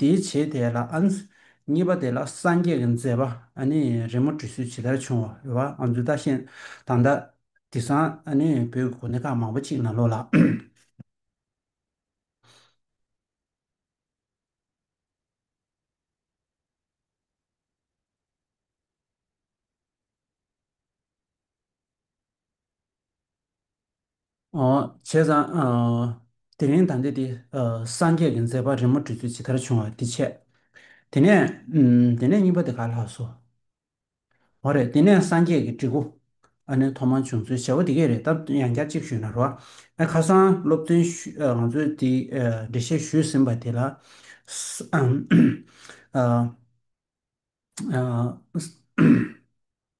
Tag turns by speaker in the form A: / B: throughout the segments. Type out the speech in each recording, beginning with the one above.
A: དེའི་བྱེད་དེ་ལ་ཨཱ། གཉིས་པ་དེ་ལ་སངས་རྒྱས་ཀྱི་མཛད་པ་ཨཱ་ནི་རི་མོ་བྲི་སྲོལ་ཇི་ལྟར་བྱུང་བ་རེ་བ་ཨཱ་མཛོད་ད་ཤན་དང་མདའ། དེ་སང་ཨཱ་ནི་བོད་ཀྱི་གོ་གནས་ཁག་མང་པོ་གཅིག་ན་ལོ་ལ། ཨོ། བྱས་ཙང། དེ་རིང་དང་འདི་དེ་སངས་རྒྱས་ཀྱི་མཛད་པ་རི་མོ་འབྲི་ཚུལ་ཇི་ལྟར་བྱུང་བ་འདི་འཆད། དེ་ནས། དེ་ནས་གཉིས་པ་དེ་ག་ལ་ལགས་སོ། འོ་རེད་དེ་ནས་སངས་རྒྱས་ཀྱི་བྲིས་སྐུ། ཨ་ནི་ཐོག་མར་བྱུང་ཚུལ་བྱ་བ་འདི་སྐད་རེད་སྟབས་ཡང་བསྐྱར་གཅིག་ཞུས་ན་རོགས། ཨ་ཁ་སང་སློབ་སྟོན་ཞུས་ང་ཚོས་དེ་འགྲེལ་བཤད་ཞུས་ཟིན་པ་དེ་ལ།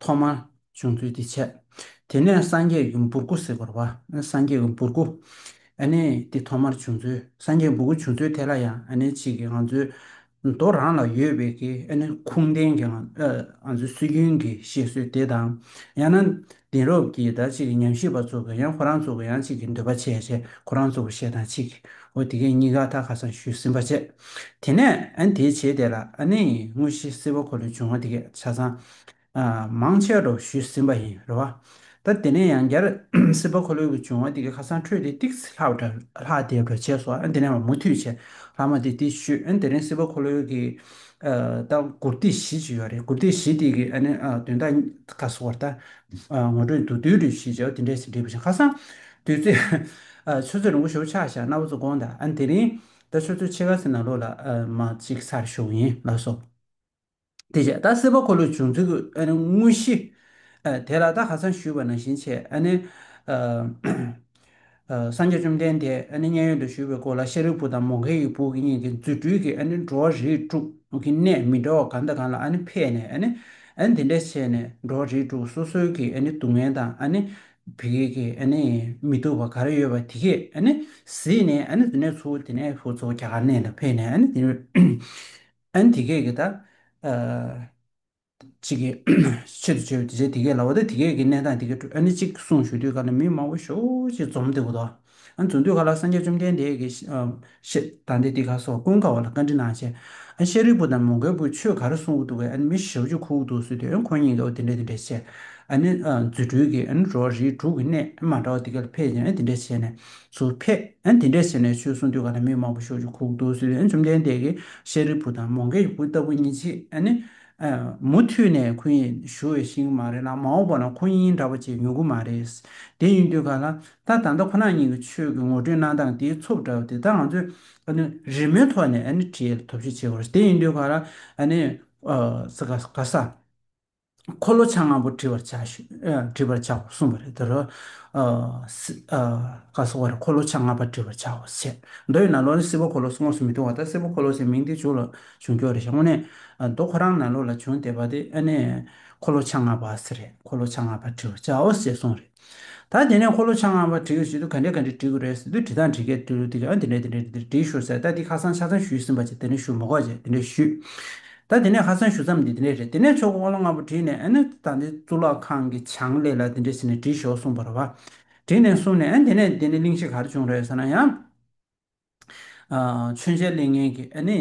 A: ཐོག་མར་བྱུང་ཚུལ་འདི་འཆད། དེ་ནས་སངས་རྒྱས་ཀྱི་འབུར་སྐུ་ཟེར་བར་བ། སངས་རྒྱས་ཀྱི་འབུར་སྐུ། ཨ་ནི་འདི་ཐོག་མར་བྱུང་ཚུལ་སངས་རྒྱས་འབུར་སྐུ་བྱུང་ཚུལ་དེ་ལ་ཡང་ཨ་ནི་ཕྱིས་ཀྱི་ང་ཚོའི་མདོ་རང་ལ་ཡོད་པའི་ཀྱི་ཨ་ནི་ཁུངས་ལྡན་གྱི་ང་ཚོའི་སྲོལ་རྒྱུན་གྱི་བཤད་སྲོལ་དེ་དང་ཡང་ན་དེང་རབས་ཀྱི་ད་ཅིག་གི་ཉམས་ཞིབ་པ་ཚོ་གི་ཡང་ཁོ་རང་ཚོ་གི་ཡང་ཅིག་གི་འདོད་པ་བྱས་བྱས་ཁོ་རང་ཚོ་གི་བཤད་སྟངས་ཅིག་གོ་དེ་གས་གཉིས་ཀ་ད་ཁ་སང་ཞུས་ཟིན་པ་བྱས། དེ་ནས་ཨ་ནི་དེའི་བྱེད་དེ་ལ་ཨ་ནི་དངོས་གཞི་སེལ་བ་ཁོ་ལས་བྱུང་བ་དེ་གས་ཆ་ཚང། མང་ཆེ་རུ་ཞུས་ཟིན་པ་ཡིན་རེད། ད་དེ་ནས་ཡང་བསྐྱར་སིལ་བ་ཁོ་ལོལ་གྱི་བྱུང་བ་དེ་གི་ཁ་སང་འཕྲོས་ཏེ་ཏིག་ལྷག་འདྲ་ལྷག་དེ་འདྲ་བྱས་སོ་ཨ་དེ་ནས་བ་མུ་མཐུད་བྱས་ལྷག་མ་དེ་དེ་བཤུས་ཨ་དེ་རིང་སིལ་བ་ཁོ་ལོལ་གྱི་ལྟ་གུར་སྟེགས་བཞི་ཅིག་ཡོད་རེད་གུར་སྟེགས་བཞི་དེ་གི་ཨ་ནི་དོན་དག་ག་སོ་བར་ད་ངོ་སྤྲོད་འདུག་དུས་རེ་བཞིན་བྱས་བ་དེ་འདྲས་ཟིན་བྲིས་པ་བཞིན་ཁ་སང་དུས་ཚོད་ཆུ་ཚོད་རིང་པོ་ཞོག་ཆ་བཞག་སྣ་བུ་ཚོ་དགོངས་དང་ཨ་དེ་རིང་ད་ཆུ་ཚོད་ཕྱེད་ཀ་ཟིན་ན་ལོ་ལ་མ་གཅིག་ཚར་ཞོག་ཡིན་ལགས་སོ། དེ་བཞིན་ད་སྲིད་པ་འཁོར་ལོའི་བྱུང་ཚུལ་གྱི་དངོས་གཞི། དེ་ལ་ད་ཧ་སང་ཞུས་པ་ནང་བཞིན་བྱས། སངས་རྒྱས་བཅོམ་ལྡན་འདས་མཉན་ཡོད་དུ་ཞུས་པའི་སྐོར་ལ་ཤཱ་རིའི་བུ་དང་མོ་གྷའི་ཡུལ་བུ་གཉིས་ཀྱི་རྫུ་འཕྲུལ་གྱིས་འགྲོ་བ་རིས་དྲུག་གི་གནས་མི་འདྲ་བ་གང་དང་གང་ལ་ཕེབས་ནས་འདི་འདྲ་བྱས་ནས་འགྲོ་བ་རིས་དྲུག་སོ་སོའི་གི་སྡུག་བསྔལ་དང་བི་གེ་གི་མི་སྡུག་པ་ག་རེ་ཡོད་པ་དེ་གས་གཟིགས་ནས་དེ་ནས་ཚུར་དེ་ནས་ཚོགས་རྒྱ་གར་གནས་ལ་ཕེབས་ནས་དེ། ཨན་དེ་སྐད་ཀྱི་ད། ཅིག་གི། ཆེད་དུ་བྱས་པའི་དེ་ཆ་དེ་སྐད་ལ་བ་དེ་དེ་སྐད་ཀྱི་གནས་སྟངས་དེ་སྐད་བཀྲོལ་ཨན་ནི་ཅིག་གསུངས་ཞུ་དུས་ཁ་ན་མི་མང་བོ་ཞོ་ཅིག་འཛོམས་འདུག་གོ། ཨན་འཛོམས་དུས་ཁ་ལ་སངས་རྒྱས་བཅོམ་ལྡན་འདས་ཀྱིས། ཤེ་ད་འདི་ཏི་ཁ་སོགས་ཀུན་དགའ་བ་ལ་བཀའ་འདྲི་གནང་བྱས། ཨན་ཤེ་རིག་པོ་དང་མོ་གལ་པོས་ཆོས་ག་རེ་གསུངས་ཀྱི་འདུག་གས་ཨན་མི་ཞེ་བོ་ཅིག་ཁུག་འདུག་ཟོས་དུས་ཨན་ཁོ་གཉིས་ཀས་འོ་དེ་འདྲས་དེ་འདྲས་བྱས། ཨན་ནི། རྫུ་འཕྲུལ་གྱིས་ཨན་རོ་རིས་དྲུག་གི་གནས་མ་འདྲ་བ་དེ་སྐད་ལ་ཕེབས་ཅིང་ཨན་དེ་འདྲས་བྱས་ནས། ཚུར་ཕེབས། དེ་འདྲས་ཟེར་ནས་ཆོལ་གསུང་ཐོས་ག་ན་མི་མང་པོ་ཤོག་ཅིག་ཁུག་འདུག་ཟེར་བས་བཅོམ་ལྡན་འདས་ཀྱིས་ཤཱ་རིའི་བུ་དང་མོ་མཁའི་བུ་ལྟ་བུ་གཉིས་ཅི་ནི། མུ་མཐུད་ནས་ཁོ་ཡིས་ཞུ་བའི་ཤིང་མ་རེད་ལ་མ་འོངས་པ་ན་ཁོ་གཉིས་འདྲ་བ་ཅིག་ཡོང་གི་མ་རེད། དེ་ཡིན་དུས་ག་ལ་ད་ད་ལྟ་ཁོ་ན་གཉིས་ཀྱི་ཆོས་ཀྱི་ངོ་སྤྲོད་གནང་སྟངས་དེའི་ཚོགས་འདྲ་བ་དེ་དག་ང་ཚོས་རི་མོའི་ཐོག་ནས་བྲིས་ཐོབ་ཤེས་བྱེད་དགོས་རེད། དེ་ཡིན་དུས་ག་ལ། ག་ས། འཁོར་ལོ་ཆ་ལྔ་པོ་བྲི་བར་བྱའོ་གསུངས་པ་རེད་དོ། བཀའ་སྲུང་བ་རེ་འཁོར་ལོ་ཆ་ལྔ་པ་བྲི་བར་བྱའོ་ཞེས་བྱ། མདོ་ཡི་ནང་ལོགས་ནི་སེར་པོ་འཁོར་ལོ་སོགས་དངོས་སུ་མི་མཐོང་བ་དང་སེར་པོ་འཁོར་ལོ་ཞེས་མིང་འདི་བྱུང་ལ་བྱུང་ཁྱོག་རེ་ཞེས་དངོས་གནས་མདོ་ཁོ་རང་ནང་ལོགས་ལ་བྱུང་བསྡད་པ་དེ་ཨ་ནི་འཁོར་ལོ་ཆ་ལྔ་པ་ཟེར་རེད་འཁོར་ལོ་ཆ་ལྔ་པ་བྲི་བར་བྱའོ་ཞེས་གསུངས་རེད། ད་དེ་ནས་འཁོར་ལོ་ཆ་ལྔ་པ་བྲི་ཡོད་ཟེར་དུས་ག་འདྲས་ག་འདྲས་བྲིས་དགོས་རེད་ཟེར་དུས་བྲིས་སྟངས་བྲིས་སྐད་དུ་དེ་རིང་འདི་འདྲས་འདི་འདྲས་འདི་འདྲས་བྲིས་ཞོར་ཟེར་ད་འདི་ཁ་སང་ཆ་ཚང་ཞུས་ཟིན་པ་ཆེ་དེ་ནས་ཞུ་མ་གོ་ཆེ་དེ་འདྲས་ཞུས། ད་དེ་ནས་ཁ་སང་ཞུ་མཚམས་འདི་འདི་འདྲས་རེད་དེ་ནས་ཆོག་གི་འཁོར་ལོ་ལྔ་པོ་བྲིས་ནས་ཨེ་ན་ད་འདི་གཙུག་ལག་ཁང་གི་བྱང་ལས་ལ་འདི་འདྲས་ཟེར་ནས་བྲིས་ཞོག་གསུངས་པར་བ། བྲིས་ནས་སོང་ནས་ཨེ་འདི་ནས་འདི་ནས་གླིང་གཞི་ག་རེ་བྱུང་རེད་ཟེར་ན་ཡང། མཆོད་མཇལ་གླེང་མཁན་གྱི་ཨ་ནེ།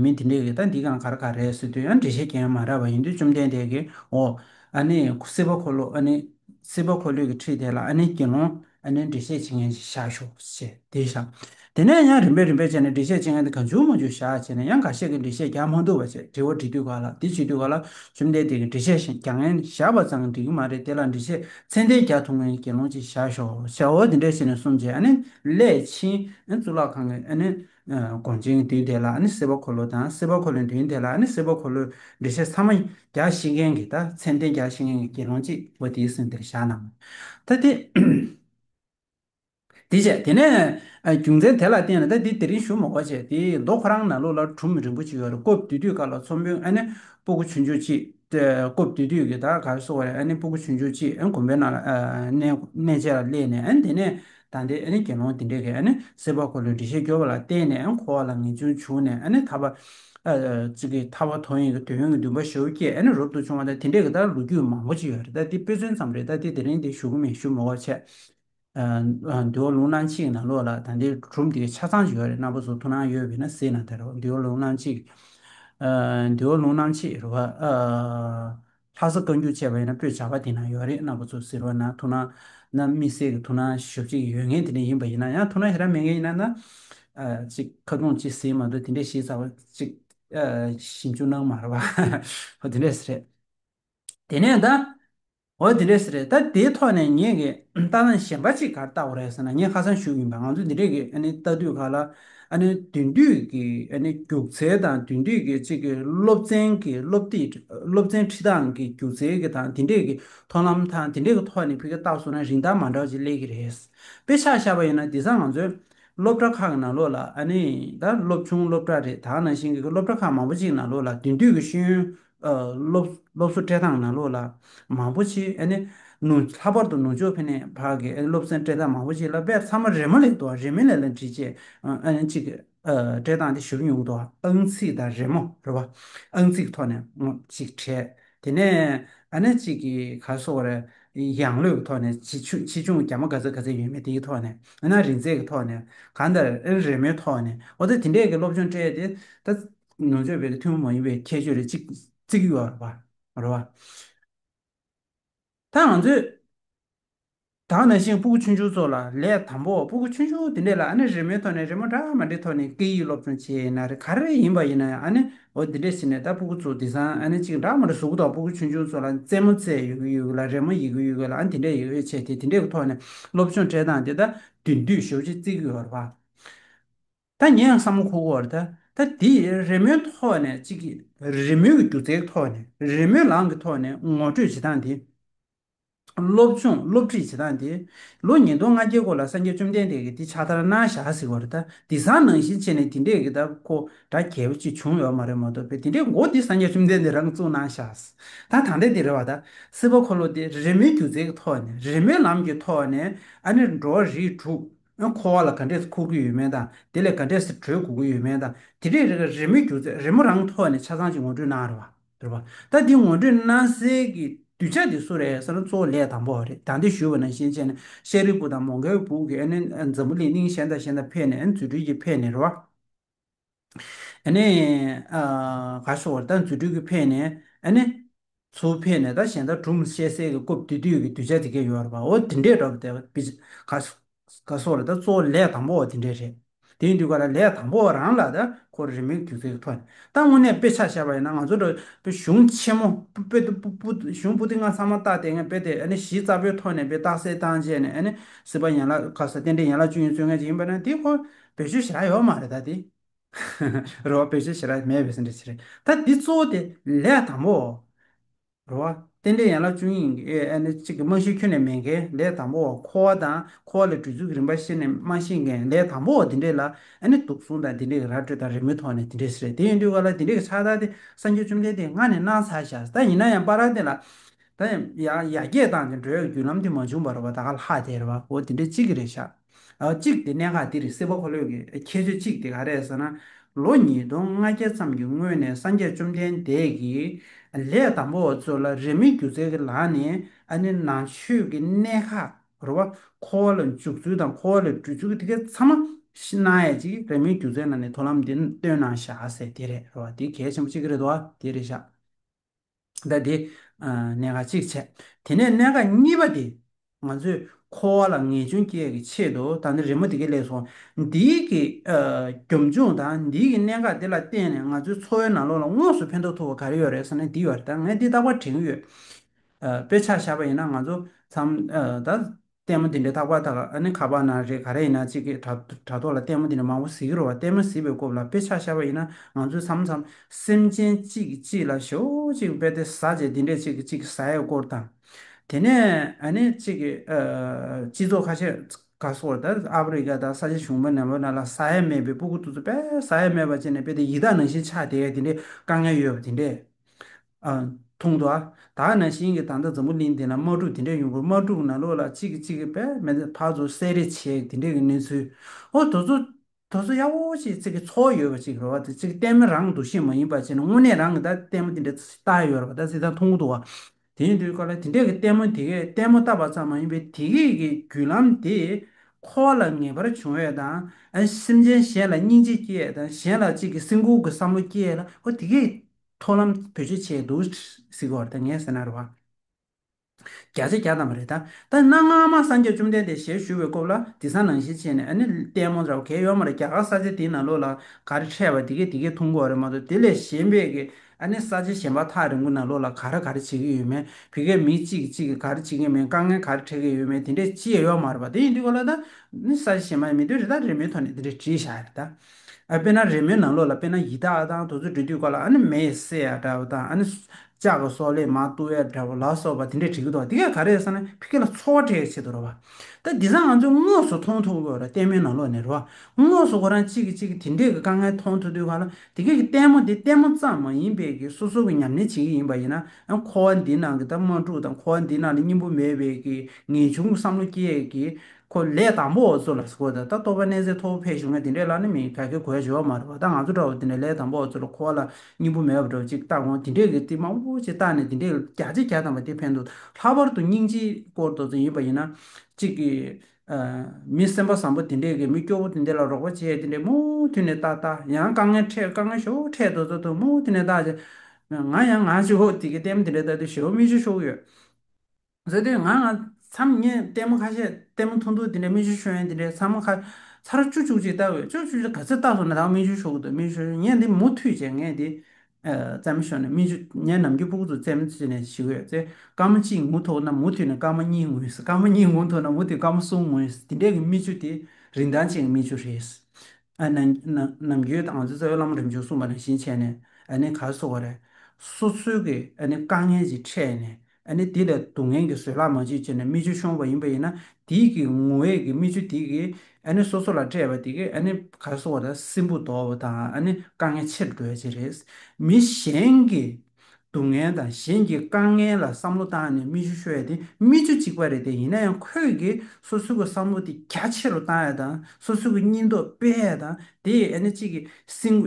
A: མི་དེ་འདྲས་ཀྱིས་ད་འདི་གང་ག་རེ་ག་རེད་ཟེར་དུས་ཡང་འགྲེལ་བཤད་ཀྱང་མ་རག་པར་ཡིན་དུས་བཅོམ་ལྡན་འདས་ཀྱིས་འོ། ཨ་ནེ། སྲིད་པ་འཁོར་ལོ་ཨ་ནེ། སྲིད་པ་འཁོར་ལོས་ཀྱི་ཁྲིད་དེ་ལ་ཨ་ནེ་དགེ་སློང། ཨ་ནེ་འགྲེལ་བཤད་བྱེད་མཁན་ཞིག་བཞག་ཤོག་ཅེས་དེ་བཞག། དེ་ནས་ཡང་རིམ་པས་རིམ་པས་བྱས་ནས་འགྲེལ་བཤད་བྱེད་མཁན་དེ་ག་འཇུག་མ་འཇུག་བཞག་ཅེས་ནས་ཡང་འགའ་ཤས་ཀྱིས་འགྲེལ་བཤད་རྒྱག་མ་འདུག་པ་བྱས་དྲི་བ་འདྲི་དུས་ག་ལ་འདི་བྱེད་དུས་ག་ལ་བཅོམ་ལྡན་འདས་ཀྱིས་འགྲེལ་བཤད་བཞག་མཁན་བཞག་པ་ཙང་འགྲིག་གི་མ་རེད་དེ་ལ་འགྲེལ་བཤད་ཚད་ལྡན་རྒྱག་ཐུབ་མཁན་གྱི་དགེ་སློང་ཅིག་བཞག་ཤོག་ཅེས་འོ་དེ་འདྲས་བྱས་ནས་གསུམ་བྱས་ཨ་ནེ། སླད་ཕྱིན་གཙུག་ལག་ཁང་གི་གོང་ཆེན་གྱི་དུས་དེ་ལ་སེར་པོ་འཁོར་ལོ་དང་སེར་པོ་འཁོར་ལོའི་དུས་དེ་ལ་སེར་པོ་འཁོར་ལོའི་འགྲེལ་བཤད་ཚང་མ་བརྒྱ་བཤད་མཁན་གྱི་ད་མཚན་བསྟན་བརྒྱ་བཤད་མཁན་གྱི་དགེ་སློང་གཅིག་པོ་དེའི་གསུང་དེར་བཞག་གནང་བ་ད་དེ། དེ་བྱས་དེ་ནས་རྒྱུ་མཚན་དེ་ལ་བརྟེན་ནས་ད་དེ་དེ་རིང་བཞུགས་མ་གོ་བྱས་དེ་མདོ་ཁོ་རང་ན་ལོ་ལར་གྲུམ་རིན་པོ་ཆེའི་བར་སྐོབས་དུས་དུས་དཀར་ལ་ཚོམ་བུའི་སྤུ་གུ་ཆུ་མཇུག་གཅིག་སྐོབས་དུས་དུས་ཀྱི་ད་ག་བསོ་བ་རེ་སྤུ་གུ་ཆུ་མཇུག་གཅིག་གོམ་པའི་ནང་ལ་གནས་བཅས་ལ་སླེབས་ནས་དེ་ནས་ད་ལྟའི་དགེ་སློང་དེ་འདྲས་ཀྱིས་སེར་བ་འཁོར་ལོའི་འགྲེལ་བཤད་བསྒྱུར་བ་ལ་བརྟེན་ནས་འཁོར་བ་ལ་ངེས་འབྱུང་བྱུང་ནས་ཐར་པ། ཐར་བ་དོན་ཡིན་གྱི་དོན་ཡོད་ཀྱི་འདུན་པ་ཞེ་བོ་བསྐྱེད་རབ་ཏུ་བྱུང་བ་དང་དེ་འདྲས་ཀྱི་ལྟར་ལོ་རྒྱུས་མང་པོ་ཅི་ཡོད་རེད་ད་འདི་དཔེ་མཚོན་ཙམ་རེད་ད་དེ་དེ་རིང་འདིར་ཞུ་གི་མིན་ཞུ་མི་དགོས་ཆེད། འདུལ་བ་ལུང་གནང་གཅིག་གི་ནང་ལོགས་ལ་ད་འདིར་གྲུབ་འདིའི་ཆ་ཚང་ཅི་ཡོད་རེད་རྣམ་པ་ཚོ་ཐུགས་སྣང་ཡོད་བས་ན་གཟིགས་ན་དེ་རེད་འདུལ་བ་ལུང་གནང་གཅིག། འདུལ་བ་ལུང་གནང་གཅིག་རེད། ལྷ་ས་བཀའ་འགྱུར་ཅེས་པ་ཡིན་ན་སྤོས་བྱ་བ་དེ་ན་ཡོད་རེད་གནའ་བོ་ཚོ་ཟེར་བ་ན་ཐུགས་ན་ན་དམིགས་བསལ་གྱི་ཐུགས་ན་ཞོ་བྱེད་ཀྱི་ཡོད་ངེས་དེ་འདྲ་ཡིན་པ་ཡིན་ན་ཡང་ཐུགས་ན་ཧེ་ར་མེད་ངེས་ཡིན་ན་ན། ཅིག་ཁ་རྡུང་ཅིག་ཟེར་མ་འདུག་དེ་འདྲའི་ཞིག་ཚ་བ་ཅིག་ཞིབ་འཇུག་གནང་མ་རེད་བ། ཧོ་དེ་འདྲས་རེད། དེ་ནས་ད། ཧོ་དེ་འདྲས་རེད་ད་དེའི་ཐོག་ནས་ངེད་ཀྱིས་ལྟ་ན་གཞན་པ་ཅིག་གར་ལྟ་བ་རེད་ཟེར་ན་ངེད་ཁ་སང་བཞུགས་ཡིན་པ་ང་ཚོ་འདི་འདྲས་ཀྱིས་ལྟ་དུས་ག་ལ་འདུས་འདུས་ཀྱི་རྒྱུགས་ཚད་དང་འདུས་འདུས་ཀྱི་གཅིག་གི་སློབ་ཚན་གྱི་སློབ་ཚན་ཁྲིད་སྟངས་ཀྱི་རྒྱུགས་ཚད་ཀྱི་དང་དེ་འདྲས་ཀྱི་ཐོན་ལམ་དང་དེ་འདྲས་ཀྱི་ཐོག་ནས་བོད་སྐད་བཏགས་སོང་ན་རིན་ཐང་མ་འདྲ་བ་ཅིག་སླེབས་ཀྱི་རེད། དཔེ་ཆ་ཤར་བ་ཡིན་ན་དེ་སང་ང་ཚོའི་སློབ་གྲྭ་ཁག་གི་ནང་ལོགས་ལ་ད་སློབ་ཆུང་སློབ་གྲྭ་རེ་དྭགས་ནང་བཞིན་གྱི་སློབ་གྲྭ་ཁག་མང་པོ་ཅིག་ནང་ལོགས་ལ་འདུས་འདུས་ཀྱི་ཤེས་ཡོན་ཨ་སློབ་སློབ་གསོ་སྤྲད་སྟངས་ན་ལོ་ལ་མང་པོ་ཆེ་ཨ་ནི་ནུ་ལྷག་པར་དུ་ནུ་ཅོ་ཕེ་ནས་བར་གི་ཨ་སློབ་ཚན་སྤྲད་སྟངས་མང་པོ་ཆེ་ལ་བས་ཚང་མ་རེ་མོ་ལེགས་འདུག་རེ་མི་ལེགས་ལ་འདྲི་བྱེད་ཨ་ནི་གཅིག་སྤྲད་སྟངས་དེ་ཞུར་ཉུག་འདུག་ཨང་ཚིག་དང་རེ་མོ་རེ་བ་ཨང་ཚིག་ཐོག་ནས་གཅིག་བྲལ་དེ་ནས་ཨ་ནི་གཅིག་གི་ག་སོ་བར་ཡང་ལོས་ཀྱི་ཐོག་ནས་ཆེ་ཆུང་ཆེ་ཆུང་ག་མ་ག་ཚད་ག་ཚད་ཡོད་མེད་དེའི་ཐོག་ནས་ཨ་ན་རིན་ཚད་ཀྱི་ཐོག་ནས་གང་ལྟར་ཨ་རེ་མོའི་ཐོག་ནས་འོ་ད་དེ་འདྲས་ཀྱི་སློབ་སྦྱོང་སྤྲད་དེ་ད་ནོར་འཆོལ་བའི་ཐུན་མོང་མ་ཡིན་པའི་ཁྱད་ཆོས་རེ་བརྩི་གི་ཡོད་པ་རེད། ད་ང་ཚོས་དག་ན་ཤིང་སྤུ་གུ་ཆུང་ཆུང་ཚོ་ལ་ལས་དང་པོ་སྤུ་གུ་ཆུང་ཆུང་དེ་འདྲས་ལ་ཨ་ནེ་རི་མོའི་ཐོག་ནས་རི་མོ་འདྲ་མ་འདྲའི་ཐོག་ནས་སྐད་ཡིག་སློབ་སྦྱོང་བྱས་ན་རེ་ག་རེ་ཡིན་པ་ཡིན་ན་ཡང་ཨ་ནེ་འོ་འདི་འདྲས་ཟེར་ནས་ད་སྤུ་གུ་ཚོ་དེ་སང་ཨ་ནེ་གཅིག་འདྲ་མ་འདྲ་བཟོ་གི་འདུག་སྤུ་གུ་ཆུང་ཆུང་ཚོ་ལ་རྩེད་མོ་རྩེ་ཡོད་གི་ཡོད་གི་ལ་རེ་མོ་ཡིག་གི་ཡོད་གི་ལ་ཨ་དེ་འདྲས་ཡོད་ཆེ་དེ་དེ་འདྲས་ཀྱི་ཐོག་ནས་སློབ་སྦྱོང་བྱས་སྟངས་དེ་ད་དུས་འདུས་ཞོག་ཅེས་བརྩི་གི་ཡོད་རེད་པ། ད་ངས་ཡང་བསམ་བློ་ཁོ་བོར་ད་ད་དེ་རེས་མོའི་ཐོག་ནས་ཅིག་གིས་རེས་མོས་ཀྱི་སྒྱུ་རྩལ་གྱི་ཐོག་ནས་རེས་མོས་ལངས་ཀྱི་ཐོག་ནས་ངོ་སྤྲོད་བྱེད་སྟངས་དེ། སློབ་སྦྱོང་སློབ་ཁྲིད་བྱེད་སྟངས་དེ། ལོ་ཉིས་སྟོང་ང་བརྒྱད་སྐོར་ལ་སངས་རྒྱས་བཅོམ་ལྡན་འདས་ཀྱིས་འདི་ཕྱག་དར་གནང་བཞག་ཟེར་བར་ད་དེ་བཟང་ནང་བཞིན་བྱས་ནས་དེ་འདྲས་ཀྱི་ད་ཁོ་དགྲ་གལ་པོ་ཅིག་བྱུང་ཡོད་མ་རེད་མ་གཏོགས་པའི་དེ་འདྲས་མགོ་འདི་སངས་རྒྱས་བཅོམ་ལྡན་འདས་རང་བཙུགས་གནང་བཞག་ད་ད་འདྲས་དེ་རེད་བ་ད་སྲིད་པ་འཁོར་ལོ་དེ་རེས་མོའི་སྒྱུ་རྩལ་གྱི་ཐོག་ནས་རེས་མོའི་ལམ་གྱི་ཐོག་ནས་ཨ་ནེ་འགྲོ་བ་རིགས་དྲུག་ཨང་འཁོར་བ་ལ་ག་འདྲས་སུ་འཁོར་གྱི་ཡོད་མེད་དང་དེ་ལས་ག་འདྲས་སུ་བྲོས་དགོས་ཀྱི་ཡོད་མེད་དང་དེ་རིང་རེ་འགའ་རེས་མོས་གྱུར་ཚད་རེས་མོ་རང་ཐོག་ནས་ཆ་ཚང་ཞིག་ངོ་སྤྲོད་གནང་རོགས། དྲུག་པ། ད་འདི་ངོ་སྤྲོད་གནང་སའི་གི་དུས་ཆ་དེ་སུ་རེད་ས་ན་གཙོ་བོ་ལས་དང་པོ་རེད་ད་འདི་ཞུས་པ་ན་ཤེས་མཆན་ནི་ཤེས་རིག་པུ་དང་མོ་གའི་བུག་གི་ཨ་ནི་འཛམ་བུ་གླིང་གླིང་གཞན་དང་གཞན་དང་ཕེབས་ནས་ཨ་ནི་རྫུ་འཕྲུལ་གྱིས་ཕེབས་ནས་རེད་བ། ཨ་ནི། ག་ཤོག་བར་ད་མཛོད་སྤྲུལ་སྐུ་ཕེབས་ནས་ཨ་ནི། ཚུར་ཕེབས་ནས་ད་གཞན་དག་གྲུབ་མི་ཤེས་གསལ་གྱི་སྐུ་བསྡུས་དུས་ཀྱི་གདུལ་བྱ་འདི་སྐད་ཡོད་རེད་པ་འོ་དེ་འདྲས་འདྲ་བ་བི་ཇི། ག་ཤོག་བར་ད་གཙོ་བོ་ལས་དང་པོ་བ་དེ་འདྲས་རེད། དེ་ཡིན་དུས་ག་ལ་ལས་དང་པོ་བ་རང་ལ་ད་ཁོ་རེ་མིག་དུས་ཚོད་ཐོག་ནས་ད་དངོས་གནས་དཔེ་ཆ་ཤར་བ་ཡིན་ན་ང་ཚོ་འདྲ་བོ་གཞུང་ཆེན་མོ་པུ་ཏི་གཞུང་པུ་ཏི་ང་ཚང་མ་བཏགས་དེ་སྔའི་དཔེ་དེ་ཨ་ནི་གཞི་རྩ་པོའི་ཐོག་ནས་དཔེ་བཏགས་སེལ་བཏང་རྗེས་ནས་ཨ་ནི་སྲིད་པ་ཡན་ལག་ག་ས་གཏན་འདྲེ་ཡན་ལག་བཅུ་ཡིན་ཚོད་ངེས་ཅིག་ཡིན་པ་ན་དེ་ཁོ་བེད་སྤྱོད་བྱེད་ར་ཡོད་མ་རེད་ད་དེ། རེད་བ་བེད་སྤྱོད་བྱེད་ར་མེད་བས་སེམས་ཁྲལ་བྱེད་རེད་ད་དེ་གཙོ་བོ་དེ་ལས་དང་པོ། རེད་བ། རྟེན་འབྲེལ་ཡན་ལག་བཅུ་གཉིས་ཀྱི་ཨེ་ནི་གཅིག་གི་རྨང་གཞི་ཁྱོན་ནས་མེད་མཁན་ལས་དང་པོ། འཁོར་བ་དང་འཁོར་བ་ལས་གྲོལ་ཚུལ་གྱི་རིམ་པ་ཤེས་ནས་རྨང་གཞི་མཁན་ལས་དང་པོ་དེ་འདྲས་ལ་ཨེ་ནི་དུག་སྲུང་དང་དེ་འདྲས་ཀྱི་ར་སྤྲོད་དང་རི་མོའི་ཐོག་ནས་དེ་འདྲས་རེད་དེ་ཡིན་དུས་ག་ལ་དེ་འདྲས་ཀྱི་ཕྱག་རྟགས་དེ་སངས་རྒྱས་བཅོམ་ལྡན་འདས་སྔར་ནས་གནང་ཚར་ཤག་ད་ཡིན་ན་ཡང་པ་ར་དེ་ལ། ད་ཡང་ཡར་རྒྱས་བཏང་སྟེ་འགྲོ་ཡ་རྒྱུ་ལམ་དེ་མ་བྱུང་བ་རེད་བ་ད་ག་ལ་དེ་རེད་བ་འོ་དེ་འདྲས་གཅིག་གི་རེད་ཤག། གཅིག་སྟེ་གནད་འགག་འདིར་སེམས་དཔའ་འཁོར་ལོས་ཀྱི་ཁྱད་ཆོས་གཅིག་དེ་ག་རེད་ཟེར་ན། ལོ་ཉིས་སྟོང་ལྔ་བརྒྱ་ཙམ་གྱི་སྔོན་ནས་སངས་རྒྱས་བཅོམ་ལྡན་འདས་ཀྱིས་ལས་དང་པོ་བ་ཚོ་ལ་རེ་མིག་སྒྱུ་རྩལ་གྱི་ལག་ནས་ཨ་ནི་ནང་ཆོས་ཀྱི་གནད་ཁག་རོ་བ་འཁོར་བ་ལ་འཇུག་ཚུལ་དང་འཁོར་བ་ལ་འགྲུལ་ཚུལ་གྱི་ཐིག་ཁའི་ཚང་མ་ཤི་ན་ཡ་ཅིག་རེ་མིག་སྒྱུ་རྩལ་ནང་ནས་ཐོ་ལམ་འདི་སྟོན་ན་བཞག་ཟེར་དེ་རེད་རོ་བ་དེ་གལ་ཆེན་པོ་གཅིག་རེད་དོ་བ་དེ་རེད་བཞག། ཟླ་འདི་ནས་ཁ་གཅིག་བྱས། དེ་ནས་གནད་འགག་གཉིས་པ་དེ། ང་ཚོས་ཁོ་བོ་ལ་ངེས་འབྱུང་སྐྱེ་གི་ཆེད་དུ་ད་ནི་རི་མོ་དེ་གས་ལེགས་སོ། འདི་གི་སྒོམ་བྱུང་དང་འདི་གི་གནད་འགག་དེ་ལ་བརྟེན་ནས་ང་ཚོའི་འཚོ་བའི་ནང་ལོགས་ལ་དངོས་སུ་ཕན་ཐོགས་ཐུབ་པ་ག་རེ་ཡོད་རེད་ཟེར་ན་འདི་ཡོད་རེད་ད་ངས་འདི་རྟག་པར་དྲན་གྱི་ཡོད། དཔེ་ཆ་བཞག་པ་ཡིན་ན་ང་ཚོ་ཚང་མ་ད། ལྟད་མོ་འདི་འདྲའི་ཐག་པ་དག་ཨ་ནི་ཁ་པར་ན་རེད་ག་རེ་ཡིན་ན་གཅིག་གིས་དྲ་ཐོག་ལ་ལྟད་མོ་འདི་འདྲ་མང་པོ་གཟིགས་ཀྱི་རོ་བ་ལྟད་མོ་གཟིགས་པའི་སྐོབས་ལ་དཔེ་ཆ་ཤར་བ་ཡིན་ན་ང་ཚོས་འཚམ་འཚམ་སེམས་ཅན་གཅིག་གཅིག་ལ་ཞོ་གཅིག་དཔེ་དེ་ཟ་རྗེས་འདི་འདྲས་གཅིག་གཅིག་ཟ་ཡའི་སྐོར་དང། དེ་ནས་ཨ་ནི་གཅིག་གིས་སྤྱི་ཚོགས་ཁ་ཤས་ག་སོར་དར་ཨ་ཕི་རི་ཀ་དང་ས་ཆ་གཞུང་བོད་ནང་བོད་ནང་ལ་ཟ་ཡ་མེད་པའི་སྤུ་གུ་ཙུ་ཙུ་དཔེ་ཟ་ཡ་མེད་པ་བཅས་ནས་དཔེ་དེ་ཡི་དྭགས་ནང་བཞིན་ཆགས་བསྡད་ཡ་དེ་འདྲའི་དཀའ་ངལ་ཡོད་པ་དེ་འདྲས། མཐོང་ཐོས་ཨ། ད་ནང་བཞིན་གྱི་ད་ལྟ་འཛམ་བུ་གླིང་འདི་ན་དམག་འཁྲུག་འདི་འདྲ་ཡོང་དགོས་དམག་འཁྲུག་ནང་ལོགས་ལ་གཅིག་གིས་གཅིག་གི་པད་མེ་ཕག་མཚོ་བསད་རེས་བྱེད་འདི་འདྲའི་གི་གནས་ཚུལ། ཨོ་དོ་ཚོ། དོ་ཚོ་ཡ་ཧོ་ཅེས་ཚིག་གི་ཚོགས་ཡོད་པ་ཅིག་རེད་བ་དེ་ཚིག་གཏད་མི་རང་འདུག་ཤེས་མ་ཡིན་པ་བྱས་ན་དངོས་གནས་རང་གི་ད་གཏད་མོ་འདི་འདྲ་ལྟ་ཡོད་རེད་བ་ད་ཚིག་ད་མཐོང་གི་འདུག་བ། དེ་ཡིན་དུས་ཀ་ལ་འདི་འདྲའི་གི་གཏད་མོ་དེ་གས་གཏད་མོ་བཏབ་པ་ཙམ་མ་ཡིན་པའི་དེ་གས་ཀྱི་བརྒྱུད་ལམ་དེ་ཁོ་བ་ལ་ངེས་པར་བྱུང་བས་དང། སེམས་ཅན་གཞན་ལ་སྙིང་རྗེ་སྐྱེས་དང་གཞན་ལ་གཅིག་གི་སེམས་ཁུར་གི་བསམ་བློ་སྐྱེས་ལ་ཨོ་དེ་གས། མཐོང་ལམ་བོད་ཆས་ཆས་འདུག་གཟིགས་བར་ད་ངས་ཟེར་ན་རེ་བ། བརྒྱ་ཆ་བརྒྱ་ཙམ་མ་རེད་ད། ད་གནའ་སྔ་མ་སངས་རྒྱས་བཅོམ་ལྡན་འདས་ཞལ་བཞུགས་པའི་སྐོབས་ལ་དེ་སང་ནང་བཞིན་བྱས་ནས་ཨ་ནི་ལྟད་མོ་འདྲ་བ་གས་ཡོག་མ་རེད་རྒྱ་གར་ས་ཆ་དེའི་ནང་ལོགས་ལ་ག་རེ་འཕྲད་པ་དེ་གས་དེ་གས་ཐུང་གོ་རེད་མ་གཏོགས་དེ་ལས་གཞན་པས་གས་ཨ་ནི་ས་ཆ་གཞན་པ་ཐག་རིང་པོ་ནང་ལོགས་ལ་ག་རེ་ག་རེ་བྱེད་གས་ཡོད་མེད་བོད་སྐད་མི་གཅིག་གིས་གཅིག་གིས་ག་རེ་བྱེད་གས་མེད་དཀའ་ངལ་ག་རེ་འཕྲད་གས་ཡོད་མེད་དེ་འདྲས་ཅི་ཡས་ཡོག་མ་རེད་པ་དེ་ཡིན་དུས་གོ་ལ་ད་ནི་ས་ཆ་གཞན་པ་མི་འདོད་རེད་ད་རེ་མོའི་ཐོག་ནས་དེ་འདྲས་བྲིས་བཞག་རེད་ད། དཔེར་ན་རེས་མོས་ནང་ལོགས་ལ་དཔེར་ན་ཡི་དྭགས་དང་དུ་ཚོད་འབྲི་དུས་ཀ་ལ་ཨ་ནི་མེ་ཡི་བསྲེ་ཡ་འདྲ་བོ་དང་ཨ་ནི་ལྕགས་ཀྱི་སོག་ལེ་མ་བཏུ་ཡ་འདྲ་བོ་ལ་སོགས་པ་དེ་འདྲས་བྲིས་གི་འདུག་དེ་ག་ག་རེད་བསམ་ན་ཕི་ཀེ་ལ་འཚོ་བ་འཕྲལ་གྱི་ཆེད་དུ་རོ་བ། ད་དེ་ས་ང་ཚོས་དངོས་སུ་མཐོང་ཐུབ་དགོས་ར་ལྟད་མོའི་ནང་ལོགས་ནས་རོ་བ། དངོས་སུ་ཁོ་རང་གཅིག་གིས་གཅིག་གི་དེ་འདྲས་ཀྱི་དཀའ་ངལ་མཐོང་ཐུབ་དུས་ག་ལ་དེ་ག་གི་ལྟད་མོ་འདི་ལྟད་མོ་ཙམ་མ་ཡིན་པས་ཀྱི་སོ་སོ་གི་ཉམས་ལེན་བྱེད་ཀྱི་ཡིན་པ་ཡིན་ན་ཁོ་བ་འདི་ནང་གི་ད་དམག་འཁྲུག་དང་ཁོ་བ་འདི་ནང་ལ་སྙིང་པོ་མེད་པས་ཀྱི་ངེས་འབྱུང་གི་བསམ་བློ་སྐྱེས་ཀྱི་ཁོ་ལས་དང་པོ་འོ་མཚོ་ལ་སྐོར་ད་ལྟ་ལྟོ་བའི་གནས་ཚད་མཐོ་བོ་ཕེབས་བྱུང་ངས་དེ་འདྲའི་ལ་ནི་མི་ག་གེ་གོའི་འབྱོར་བ་མ་རེད་བ་ད་ང་ཚོ་འདྲ་བོ་དེ་འདྲ་ལས་དང་པོ་འོ་མཚོ་ལ་འཁོར་བ་ལ་སྙིང་པོ་མེད་པ་འདྲ་བོ་ཅིག་བལྟ་གོང་དེ་འདྲའི་གི་ཏི་མ་འུ་བུ་ཅིག་བཏགས་ནས་དེ་འདྲའི་རྒྱ་ལྕེ་རྒྱ་དང་པ་དེ་ཕན་འདུག་ལྷག་པར་དུ་སྙིང་རྗེའི་སྐོར་དོ་ཚོ་ཡིན་པ་ཡིན་ན། ཅིག་གི། མི་སེམས་པ་བཟང་པོ་དེ་འདྲའི་གི་མི་སྐྱོ་བོ་དེ་འདྲ་ལ་རོགས་པ་བྱས་དེ་འདྲའི་མུ་མཐུད་ནས་བལྟ་བལྟ་ཡང་དཀའ་ངལ་འཕྲད་དཀའ་ངལ་ཞོ་འཕྲད་དོ་ཚོ་དོ་མུ་མཐུད་ནས་བལྟ་བྱ། ང་ཡང་ང་ཅོ་དེ་གི་ཏེམ་དེ་འདྲ་བལྟ་དུས་ཞོ་མི་ཅོ་ཤོག་ཡོད། ཟེར་དུས་ང་ང་མཚམས་བརྙན་ལྟད་མོ་ཁ་ཤས་ལྟད་མོ་ཐུང་ཐུང་དེ་འདྲའི་སྨིན་བྱུང་ཤོད་ཡོན་དེ་འདྲའི་ཚང་མ་ཁ་ཚར་བཅུ་བཅུ་གཅིག་བལྟ་འོས་བཅུ་བཅུ་གཅིག་ག་ཚོད་བལྟ་སོང་ན་ད་སྨིན་བྱུང་ཤོད་གི་འདུག་སྨིན་བྱུང་བརྙན་འདི་མུ་མཐུད་བྱས་ངས་དེ་བཙལ་མ་ཤོར་ནས་སྨིན་བྱུང་བརྙན་ནམ་རྒྱུན་སྤུག་ཏུ་བཙལ་མ་བྱས་ནས་ཞིག་འོས་ཚེ་སྐར་མ་གཅིག་ངུ་ཐོག་ན་མུ་མཐུད་ནས་སྐར་མ་གཉིས་ངུས་སྐར་མ་གཉིས་ངུ་ཐོག་ན་མུ་མཐུད་སྐར་མ་གསུམ་ངུས་དེ་འདྲས་ཀྱི་སྨིན་བྱུང་དེ་རིན་ཐང་ཅན་གྱི་སྨིན་བྱུང་རེད། ནམ་རྒྱུན་ང་ཚོའི་རྩ་བའི་བླ་མ་རིམ་བྱོན་གསུངས་པ་ནང་བཞིན་བྱས་ནས་ཁ་གསོ་བ་རེད། སོ་སོའི་དཀའ་ངལ་གྱིས་ཕྲད་ནས་ཨ་ནི་དེ་ལས་སྡུག་བསྔལ་གྱི་བཟོད་གླགས་མ་མཆིས་ཅེ་ན་རྨི་ཆུ་ཤོང་བ་ཡིན་པ་ཡིན་ན་དེ་ཀྱི་ངུ་བས་ཀྱི་རྨི་ཆུ་དེ་ཀྱིས་ཨ་ནི་སོ་སོ་ལ་སྤྲད་པ་དེ་ཀས་ཨ་ནི་ག་ལ་སོང་བ་དང་སྲིན་བུ་དོག་བ་དང་ཨ་ནི་དཀའ་ངལ་ཆེར་འགྲོ་བའི་ཕྱིར་རེད། མི་གཞན་གྱི་སྡུག་བསྔལ་དང་གཞན་གྱི་དཀའ་ངལ་ལ་བསམ་བློ་བཏང་ནས་རྨི་ཆུ་ཤོར་ཡ་དེ་རྨི་ཆུ་གཅིག་པ་རེད་དེ་ཡིན་ན་ཡང་ཁོས་ཀྱིས་སོ་སོའི་གི་བསམ་བློ་དེ་རྒྱ་ཆེ་རུ་བཏང་ཡ་དང་སོ་སོའི་གི་སྙིང་སྟོབས་སྤེལ་ཡ་དང་དེ་ཡིས་ནི་གཅིག་གིས་སྲིང།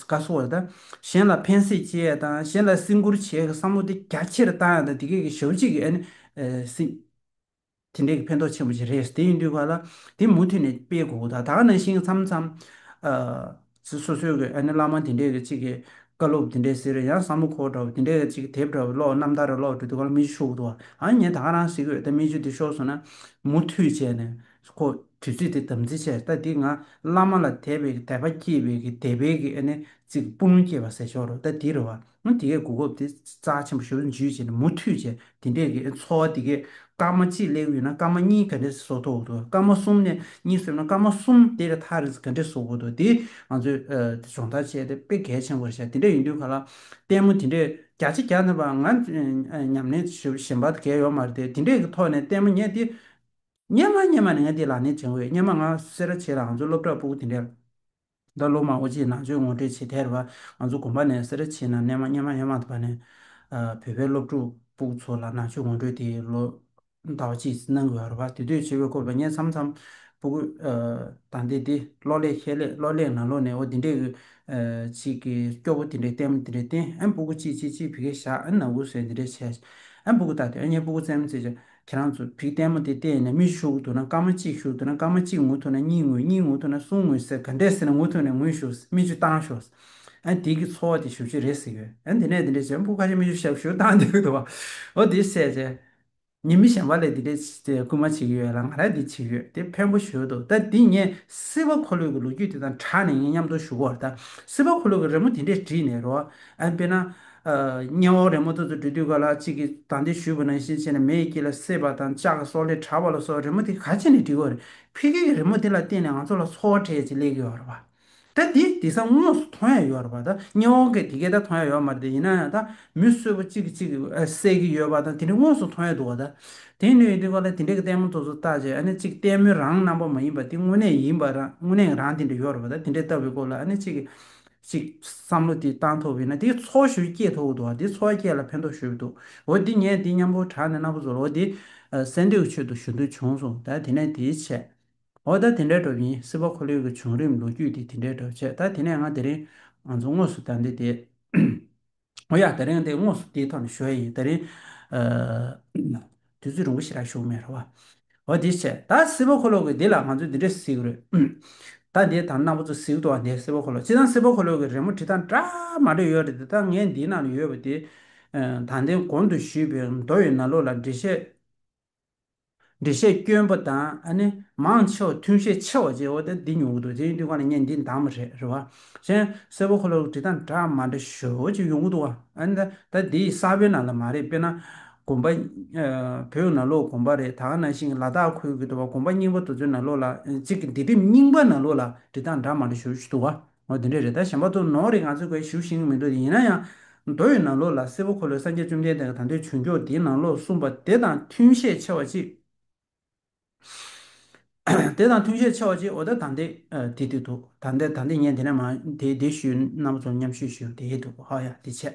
A: བཀའ་སྲོལ་བ་དང། གཞན་ལ་ཕན་སེམས་བསྐྱེད་ཡ་དང་གཞན་ལ་སྲིང་བཀུར་བྱེད་ཀྱི་བསམ་བློ་དེ་རྒྱ་ཆེར་བཏང་ཡ་དང་དེ་གས་ཀྱི་ཞབས་གཅིག་གིས་ནི། སྲིང། དེ་འདྲས་ཀྱི་ཕན་ཐོགས་ཆེན་པོ་ཞིག་རེད་དེ་ཡིན་དུས་བ་ལ་དེ་མུ་མཐུད་ནས་སྤེལ་དགོས་གོ་ད་ད་ནང་བཞིན་མཚམས་མཚམས། སོ་སོའི་གི་ནི་བླ་མ་དེ་འདྲས་ཀྱི་གཅིག་གིས་བཀའ་སློབ་དེ་འདྲས་ཟེར་ཡང་བསམ་བློ་འཁོར་འདྲ་བོ་དེ་འདྲས་ཀྱི་གཅིག་གིས་དེབ་འདྲ་བོ་ཀློག་རྣམ་ཐར་རེ་ཀློག་འགྲོ་དུས་བ་ལ་མི་ཆུ་ཤོར་གོ་ཐུག་བ་ཨ་ཉེ་ད་རང་སྲིད་དགོས་ད་མི་ཆུ་དེ་ཤོར་སོང་ན། མུ་མཐུད་བྱས་ནས། ཁོ་དུས་ཚོད་དེ་དམ་འཛིན་བྱས་ད་དེ་ང་བླ་མ་ལ་དད་པའི་དད་པ་སྐྱེས་པའི་གི་དད་པའི་གི་ཨ་ནི་ཙི་གི་སྤུན་ལུང་སྐྱེས་པ་ཟེར་ཆོག་རོ་ད་དེ་རེད་བ་ང་དེ་གས་གོ་སྐབས་དེ་རྩ་ཆེན་པོ་ཞུ་རུ་འཇུས་བྱས་ནས་མུ་མཐུད་བྱས་དེ་འདྲས་གི་འཚོ་བ་དེ་གས་སྐར་མ་གཅིག་སླེབས་ཡོད་ན་སྐར་མ་གཉིས་ག་འདྲས་བཟོ་ཐུབ་འོག་དུ་སྐར་མ་གསུམ་ནས་གཉིས་སོས་ན་སྐར་མ་གསུམ་དེ་རེ་ཐག་རེ་ག་འདྲས་བཟོ་དགོས་འདུག་དེ་ང་ཚོས་དེ་སྦྱོང་བརྡར་བྱས་ཏེ་དཔེ་གལ་ཆེན་པོ་རེ་བྱས་དེ་འདྲས་ཡིན་དུས་ག་ལ་ལྟད་མོ་དེ་འདྲས་བརྒྱ་ཆ་བརྒྱ་ནི་བ་ང་ཉམས་ལེན་ཞིབ་ཞེན་པ་གས་ཡོད་མ་རེད་དེ་འདྲས་གི་ཐོག་ནས་ལྟད་མོ་ངས་དེ་སྙན་མ་སྙན་མ་ནས་ང་འདི་ལ་ནི་བྱིང་འོས་སྙན་མ་ང་སེ་ར་བྱེད་ལ་ང་ཚོའི་སློབ་གྲྭ་སྤུག་དེ་འདྲས་ད་ལོ་མང་བོ་ཅིག་ནང་ཆོས་ངོ་སྤྲོད་བྱེད་ཐལ་བ་ང་ཚོ་དགོན་པ་ནས་སེ་ར་བྱེད་ན་སྣན་མ་སྙན་མ་སྙན་མ་དང་བ་ནས་བོད་པའི་སློབ་ཕྲུག་སྤུག་ཚོ་ལ་ནང་ཆོས་ངོ་སྤྲོད་དེ་ལོ་ཟླ་བ་ཅིག་གནང་དགོས་ར་བ་དེ་དུས་བྱེད་བའི་སྐོར་བ་སྙན་འཚམ་འཚམ་སྤུག་གོས་དང་དེ་དེ་ལོ་ལེགས་ཤས་ལེགས་ལོ་ལེགས་ན་ལོ་ནས་བ་དེ་འདྲས་གི་ཅིག་གི་སྐྱོ་བོ་དེ་འདྲས་བསྟན་མ་དེ་འདྲས་བསྟན་ཨེ་སྤུག་གོ་ཅིག་ཅིག་ཅིག་བི་གེ་བཞག་ཨེ་ནག་གོ་ཟེར་དེ་འདྲས་བྱས་ཨེ་སྤུག་གོ་ད་དེ་ཨེ་སྙན་སྤུག་གོ་བཙན་མ་བཙན་བྱས། ཁྱེད་རང་ཚོ་བིག་ལྟད་མོ་དེ་བལྟས་ནས་མི་ཞུགས་འདུག་ན་སྐར་མ་གཅིག་ཞུགས་འདུག་ན་སྐར་མ་གཅིག་ངུ་ཐུབ་ན་གཉིས་ངུས་གཉིས་ངུ་ཐུབ་ན་གསུམ་ངུས་ཟེར་ག་འདྲས་ཟེར་ན་ངུ་ཐུབ་ནས་ངུས་ཞུགས་མི་ཆུ་བཏང་ཞོགས། དེ་གི་འཚོ་བ་དེ་ཞུ་རྒྱུ་རེད་ཟེར་གི། དེ་ནས་དེ་འདྲས་བྱས་སྤུ་ཁ་ཤས་མི་ཆུ་ཞབས་ཞུ་བཏང་འདུག་འདུག་བ། འོ་དེ་ཟད་རྗེས། ངེད་མི་གཞན་པ་ལས་དེ་འདྲས་སྐུལ་མ་བྱེད་ཀྱི་ཡོད་ལ་ང་རང་དེ་བྱེད་ཀྱི་ཡོད་དེ་ཕན་པོ་ཞུ་འདུག་ད་འདི་ངས་སྲིད་པ་འཁོར་ལོས་ཀྱི་ལོ་རྒྱུས་དེ་དང་གྲགས་ནས་ངས་མཉམ་འདོར་ཞུ་གོ་ད་སྲིད་པ་འཁོར་ལོས་ཀྱི་རི་མོ་དེ་འདྲས་བྲིས་ནས་རོགས། དཔེར་ན། སྙན་བོག་རེ་མོ་ཐུགས་སུ་འདྲུད་དུས་ག་ལ་གཅིག་གིས་དང་དེ་ཞུས་པ་ནང་བཞིན་བྱས་ནས་མེ་ཡི་དཀྱིལ་ལ་བསྲེས་པ་དང་ལྕགས་ཀྱི་སོག་ལེས་དྲ་བ་ལ་སོགས་རི་མོ་དེ་ག་ཅིག་ནས་འབྲི་བར་ཕི་གེ་གི་རི་མོ་དེ་ལ་བརྟེན་ནས་ང་ཚོ་ལ་འཚོ་བ་འཕྲལ་གྱི་ལེགས་ཡོད་རེད་པ་ད་དེ་དེ་སང་དངོས་སུ་མཐོང་ཡ་ཡོད་རེད་པ་ད་སྙན་བོག་གི་དེ་གས་ད་མཐོང་ཡ་ཡོད་མ་རེད་ད་ཡིན་ན་ཡང་ད་མི་གསོད་པོ་གཅིག་གིས་གཅིག་བསད་ཀྱི་ཡོད་པ་དང་དེ་འདྲ་དངོས་སུ་མཐོང་ཡ་འདུག་བ་ད་དེ་འདྲ་ཡོད་དུས་ག་ལ་དེ་འདྲ་གི་ལྟད་མོ་ཐུགས་སུ་བཏགས་རྗེས་ཨ་ནི་གཅིག་ལྟད་མོའི་རང་རྣམ་པ་མ་ཡིན་པ་དེ་དངོས་གནས་ཡིན་པ་རང་དངོས་གནས་རང་དེ་འདྲ་ཡོད་རེད་པ་ད་དེ་འདྲ་བལྟ་བའི་སྐོར་ལ་ཨ་ནི་གཅིག་ཅིག། བསམ་བློ་དེ་བཏང་ཐུབ་ཡོད་ན་དེ་འཚོ་བ་ཞུ་རྒྱུ་སྐྱེས་ཐུབ་འདུག་དེ་འཚོ་བ་སྐྱེས་ལ་ཕན་ཐོགས་ཞུ་འདུག་འོ་དེ་ངས་དེ་མཉམ་པོ་དྲག་ནས་གནའ་བོ་ཚོ་ལོ་དེ་སེང་ལྡེའུ་ཆོས་དུ་ཞུ་འདོད་བྱུང་སོང་ད་དེ་ནས་དེའི་ཆེད། འོ་ད་དེ་འདྲའི་གྲབས་ཡིན་སྲིད་པ་ཁོ་ལོས་ཀྱི་བྱུང་རིམ་ལོ་རྒྱུས་དེ་དེ་འདྲའི་གྲབས་བྱས་ད་དེ་ནས་ང་དེ་རིང་ང་ཚོ་དངོས་སུ་ད་འདི་དེ། ཡ་དེ་རིང་དེ་དངོས་སུ་དེའི་ཐོག་ནས་ཞུ་ཡ་ཡིན་དེ་རིང་ཨ་དུས་ཚོད་རིང་པོ་ཞིག་རག་ཞུ་མེད་རེད་བ་འོ་དེ་བྱས་ད་སེ་བོ་ཁོ་ལོག་གི་དེ་ལ་ང་ཚོས་འདི་འདྲས་གཟིགས་རོས་ད་དེ་དང་གནང་པོ་ཚོ་གཟིགས་འདུག་བ་དེ་སེ་བོ་ཁོ་ལོག་ཅི་ད་སེ་བོ་ཁོ་ལོག་གི་རེ་མོ་དྲི་དང་འདྲ་མ་འདྲ་ཡོད་རེད་དེ་ད་ངས་འདིའི་ནང་ཡོད་པ་དེ་ད་དེ་གོང་དུ་ཞུས་པའི་མདོ་ཡི་ན་ལོ་ལ་འགྲེལ་བཤད་འགྲེལ་བཤད་སྐྱོན་པོ་དང་ཨ་ནི་མང་ཆེ་བ་ཐུན་བཤད་ཆེ་བ་བཅས་འོ་དེ་འདི་ཉོ་གི་འདུག་དེ་ཡིན་དུས་གང་ལ་ཉན་འདི་འདང་མ་རེད་རེད་བ། གཞན། གསལ་བོ་ཁོ་ལ་བྲིས་དང་འདྲ་མ་འདྲ་ཞོལ་བོ་ཅིག་ཡོང་གི་འདུག་བ། ཨ་ནི་ད་ད་འདི་ས་བོད་ནང་ལ་མ་རེད་དཔེར་ན། དགོན་པ། བོད་ནང་ལོག་དགོན་པ་རེད་ད་ག་ནང་བཞིན་གྱི་ལ་དྭགས་ཁུལ་གྱི་འདུག་བ་དགོན་པ་རྙིང་པ་དུ་ཚོད་ནང་ལོག་ལ་གཅིག་གི་འདི་དེབ་རྙིང་པ་ནང་ལོག་ལ་བྲིས་དང་འདྲ་མ་འདྲ་ཞོལ་ཅིག་འདུག་བ། ངོ་དེ་འདྲས་རེད་ད་གཞན་པ་ཏུ་ནོར་རེད་ང་ཚོས་གོས་ཞུ་ཤིང་མི་འདུག་ཡིན་ན་ཡང་རྡོ་ཡི་ནང་ལོགས་ལ་སེར་བོ་འཁོར་ལོས་སངས་རྒྱས་བཅོམ་ལྡན་འདས་ཀྱི་དང་དོད་བྱུང་མགྱོགས་དེའི་ནང་ལོགས་གསུངས་པ་དེ་དང་མཐུན་ཤས་ཆེ་བ་གཅིག་དེ་དང་མཐུན་ཤས་ཆེ་བ་གཅིག་འོ་ད་དང་དེ་དེ་དེ་འདུག་དང་དེ་དང་དེ་ངས་དེ་ནས་མ་དེ་དེ་ཞུས་རྣམ་པ་ཚོ་མཉམ་ཞུས་ཞུས་དེ་ཡིན་འདུག་ཧོ་ཡ་དེ་ཆད་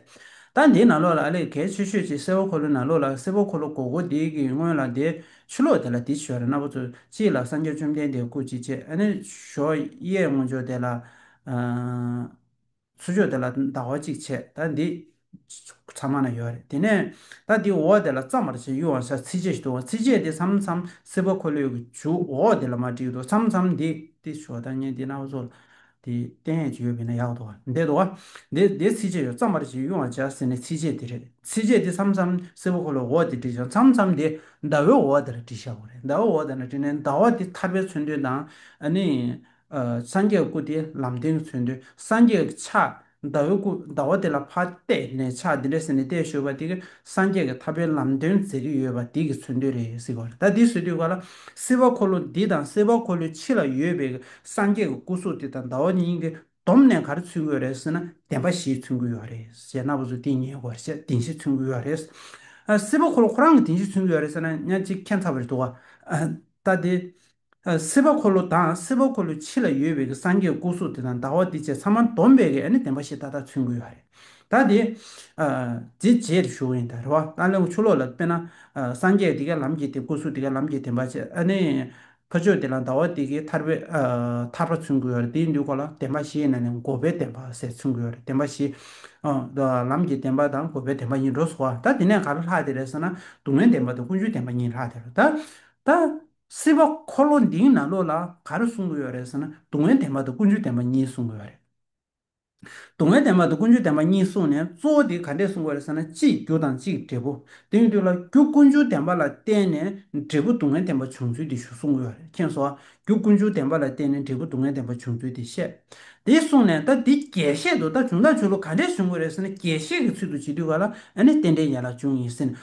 A: ད་འདིའི་ནང་ལོགས་ལ་ཨ་ལས་གལ་ཆེ་ཤོས་ཅིག་སེར་བོ་འཁོར་ལོའི་ནང་ལོགས་ལ་སེར་བོ་འཁོར་ལོ་གོ་གོ་དེའི་གི་སྔོན་ལ་དེ་ཕྱི་ལོགས་དེ་ལ་དེ་ཞོལ་ར་སྣ་བུག་ཚོ་གཅིག་ལ་སངས་རྒྱས་བཅོམ་ལྡན་འདས་སྐུ་གཅིག་ཆད་ནས་ཞོ་གཡས་སྔོ་ཕྱོགས་དེ་ལ། ཚུར་ཕྱོགས་དེ་ལ་ཟླ་བ་གཅིག་ཆད་ད་འདི། ཚང་མ་ན་ཡོད་རེད་དེ་ནས་ད་འདི་འོག་དེ་ལ་བརྩམ་པར་བྱེད་གཡུ་བ་ས་ཚིགས་བཅད་ཞིག་འདུག་ཚིགས་བཅད་དེ་མཚམས་མཚམས་སེར་པོ་འཁོར་ལོས་ཀྱི་བྱུག་འོག་དེ་ལ་མ་བྲིས་འདུག་མཚམས་མཚམས་འདི་འདི་ཞོ་ད་ངས་འདི་སྣ་བུག་ཚོ་ལ། དེ་བསྟན་ཡས་བྱེད་ཡོད་བས་ན་ཡག་དོ། འདས་དོ། འདས་འདས་ཚིགས་བཅད་ཡོད་རྩ་མར་ཅིག་དབྱུང་བར་བྱ་ཟེར་ནས་ཚིགས་བཅད་དེ་རེད། ཚིགས་བཅད་དེ་མཚམས་མཚམས་སེར་བོ་འཁོར་ལོའི་འོག་དེར་བྲིས་ཀྱང་མཚམས་མཚམས་དེ་ཟླ་བའི་འོག་དེར་བྲིས་ཤ་བོ་རེད། ཟླ་བའི་འོག་དེ་ན་བྲིས་ནས་ཟླ་བ་དེ་ཐར་པའི་མཚོན་དོན་དང། ནི། སངས་རྒྱས་སྐུ་དེ་ལམ་བདེན་གྱི་མཚོན་དོན་སངས་རྒྱས་ཀྱི་ཕྱག། ཟླ་བའི་སྐུ་ཟླ་བ་དེ་ལ་ཕ་གཏད་ནས་ཕྱག་འདི་འདྲ་ཟེར་ནས་གཏད་ཞོར་བ་དེ་གིས་སངས་རྒྱས་ཀྱི་ཐར་པའི་ལམ་སྟོན་མཛད་ཀྱི་ཡོད་པ་དེ་གི་ཚུལ་འདོད་རེད་ཟེར་བར་ད་འདི་བཟོས་དུས་ག་ལ་སེར་བ་འཁོར་ལོ་འདི་དང་སེར་བ་འཁོར་ལོའི་ཕྱི་ལ་ཡོད་པའི་སངས་རྒྱས་ཀྱི་སྐུ་གཟུགས་དེ་དང་ཟླ་བ་གཉིས་ཀྱི་བསྡོམས་ནས་ག་རེ་ཚུལ་དགོས་རེད་ཟེར་ན་བདེན་པ་བཞི་ཚུལ་དགོས་ཡོད་རེད་ཟེར་ན་བཟོ་དེ་ཉེ་དགོས་རེད་བདེན་བཞི་ཚུལ་དགོས་ཡོད་རེད། སེར་བ་འཁོར་ལོ་ཁོ་རང་གི་བདེན་བཞི་ཚུལ་དགོས་ཡོད་རེད་ཟེར་ན་ཉག་གཅིག་མཁྱེན་ཚར་བ་རེད་འདུག་ག་ད་འདི། སེར་བ་འཁོར་ལོ་དང་སེར་བ་འཁོར་ལོའི་ཕྱི་ལ་ཡོད་པའི་སངས་རྒྱས་སྐུ་གཟུགས་དེ་དང་ཟླ་བ་དེ་བཅས་ཚང་མ་འདོམས་པའི་གནས་བདེན་པ་ཞེས་ད་ལྟ་མཚོན་དགོས་ཡོད་རེད། ད་དེ། དེ་རྗེས་དེ་ཞུ་ཡིན་ད་རེད་བ། ད་ལེའུ་ཆུ་ལོག་ལ་དཔེར་ན། སངས་རྒྱས་དེ་གའི་ལམ་གྱིས་དེ་སྐུ་གཟུགས་དེ་གའི་ལམ་གྱིས་བདེན་པ་ཅེས་ཨ་ནི། ཕ་ཆོས་དེ་ལ་ཟླ་བ་དེ་གའི་ཐར་པའི་ཐར་པ་མཚོན་དགོས་ཡོད་རེད་དེའི་འདུས་འགོ་ལ་བདེན་པ་ཞེས་ན་ནི་འགོ་པའི་བདེན་པ་ཟེར་མཚོན་དགོས་ཡོད་རེད་བདེན་པ་ཞེས། ལམ་གྱི་བདེན་པ་དང་འགོ་པའི་བདེན་པ་གཉིས་འགྲོ་སོང་བ་ད་དེ་ནས་ག་ལ་ལྷག་དེ་རེད་ཟེར་ན་སྡུག་བསྔལ་བདེན་པ་དང་ཀུན་སྤྱོད་བདེན་པ་གཉིས་ལྷག་དེ་རེད་ད། སྲིད་པ་འཁོར་ལོ་འདིའི་ནང་ལོགས་ལ་ག་རེ་གསུང་གི་ཡོད་རེད་ཟེར་ན་སྡུག་བསྔལ་བདེན་པ་དང་ཀུན་སྤྱོད་བདེན་པ་གཉིས་གསུང་གི་ཡོད་རེད། སྡུག་བསྔལ་བདེན་པ་དང་ཀུན་སྤྱོད་བདེན་པ་གཉིས་གསུང་ནས་གཙོ་བོ་དེ་ག་འདྲས་གསུང་གི་རེད་ཟེར་ན་གཅིག་རྒྱུ་དང་གཅིག་འབྲས་བུ། དེ་ཡིན་དུས་ལ་རྒྱུ་ཀུན་སྤྱོད་བདེན་པ་ལ་བརྟེན་ནས་འབྲས་བུ་སྡུག་བསྔལ་བདེན་པ་བྱུང་ཚུལ་དེ་ཞུ་གསུང་གི་ཡོད་རེད་མཁྱེན་གསོ། རྒྱུ་ཀུན་སྤྱོད་བདེན་པ་ལ་བརྟེན་ནས་འབྲས་བུ་སྡུག་བསྔལ་བདེན་པ་བྱུང་ཚུལ་དེ་བཤད། དེ་གསུང་ནས་ད་འདི་རྒྱས་བཤད་དུ་ད་བྱུང་དང་བྱུང་ལུགས་ག་འདྲས་བྱུང་གི་རེད་ཟེར་ན་རྒྱས་བཤད་ཀྱི་ཚུལ་དུ་བྱེད་དུས་ག་ལ་ཨ་ནི་རྟེན་འབྲེལ་ཡན་ལག་བྱུང་ཡིན་ཟེར་ནས་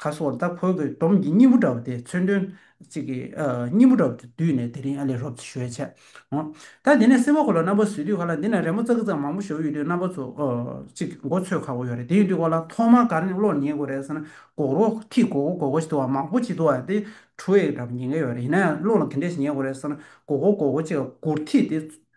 A: ཁ་སོར་ད་ཁོལ་གྱི་འདོམ་གྱི་སྙིང་བོ་འདྲ་བ་དེ་མཚོན་དོན། ཅིག་གི་སྙིང་བོ་འདྲ་བ་དེ་བསྡུས་ནས་དེ་རིང་ཨ་ལས་རོབ་ཚེ་ཞོལ་ཆད། འོ། ད་འདི་ནས་སེར་བོ་ཁོ་ལ་རྣམ་པ་བཟོས་དུས་ཁ་ལ་འདི་ན་རེ་མོ་ཙག་གི་ཙག་མང་པོ་ཞོ་ཡོད་དུས་རྣམ་པ་ཚོ། ཅིག་མགོ་ཚོས་ཁག་པོ་ཡོད་རེད་དེ་ཡོད་དུས་ཁོ་ལ་ཐོག་མར་གར་ནས་གློག་ཉན་དགོས་རེད་ཟེར་ན་གོག་རོ་ཐིག་གོ་གོ་གོ་གོ་ཞིག་འདུག་བ་མང་པོ་ཅིག་འདུག་བ་དེ་ཁྲུ་ཨེག་འདྲ་པོ་ཉན་གི་ཡོད་རེད་ཡིན་ན་ཡང་གློག་ལ་དེ་འདྲས་ཤིག་ཉན་དགོས་རེད་ཟེར་ན་གོག་གོ་གོག་གོ་ཅིག་གོར་ཐིག་དེ་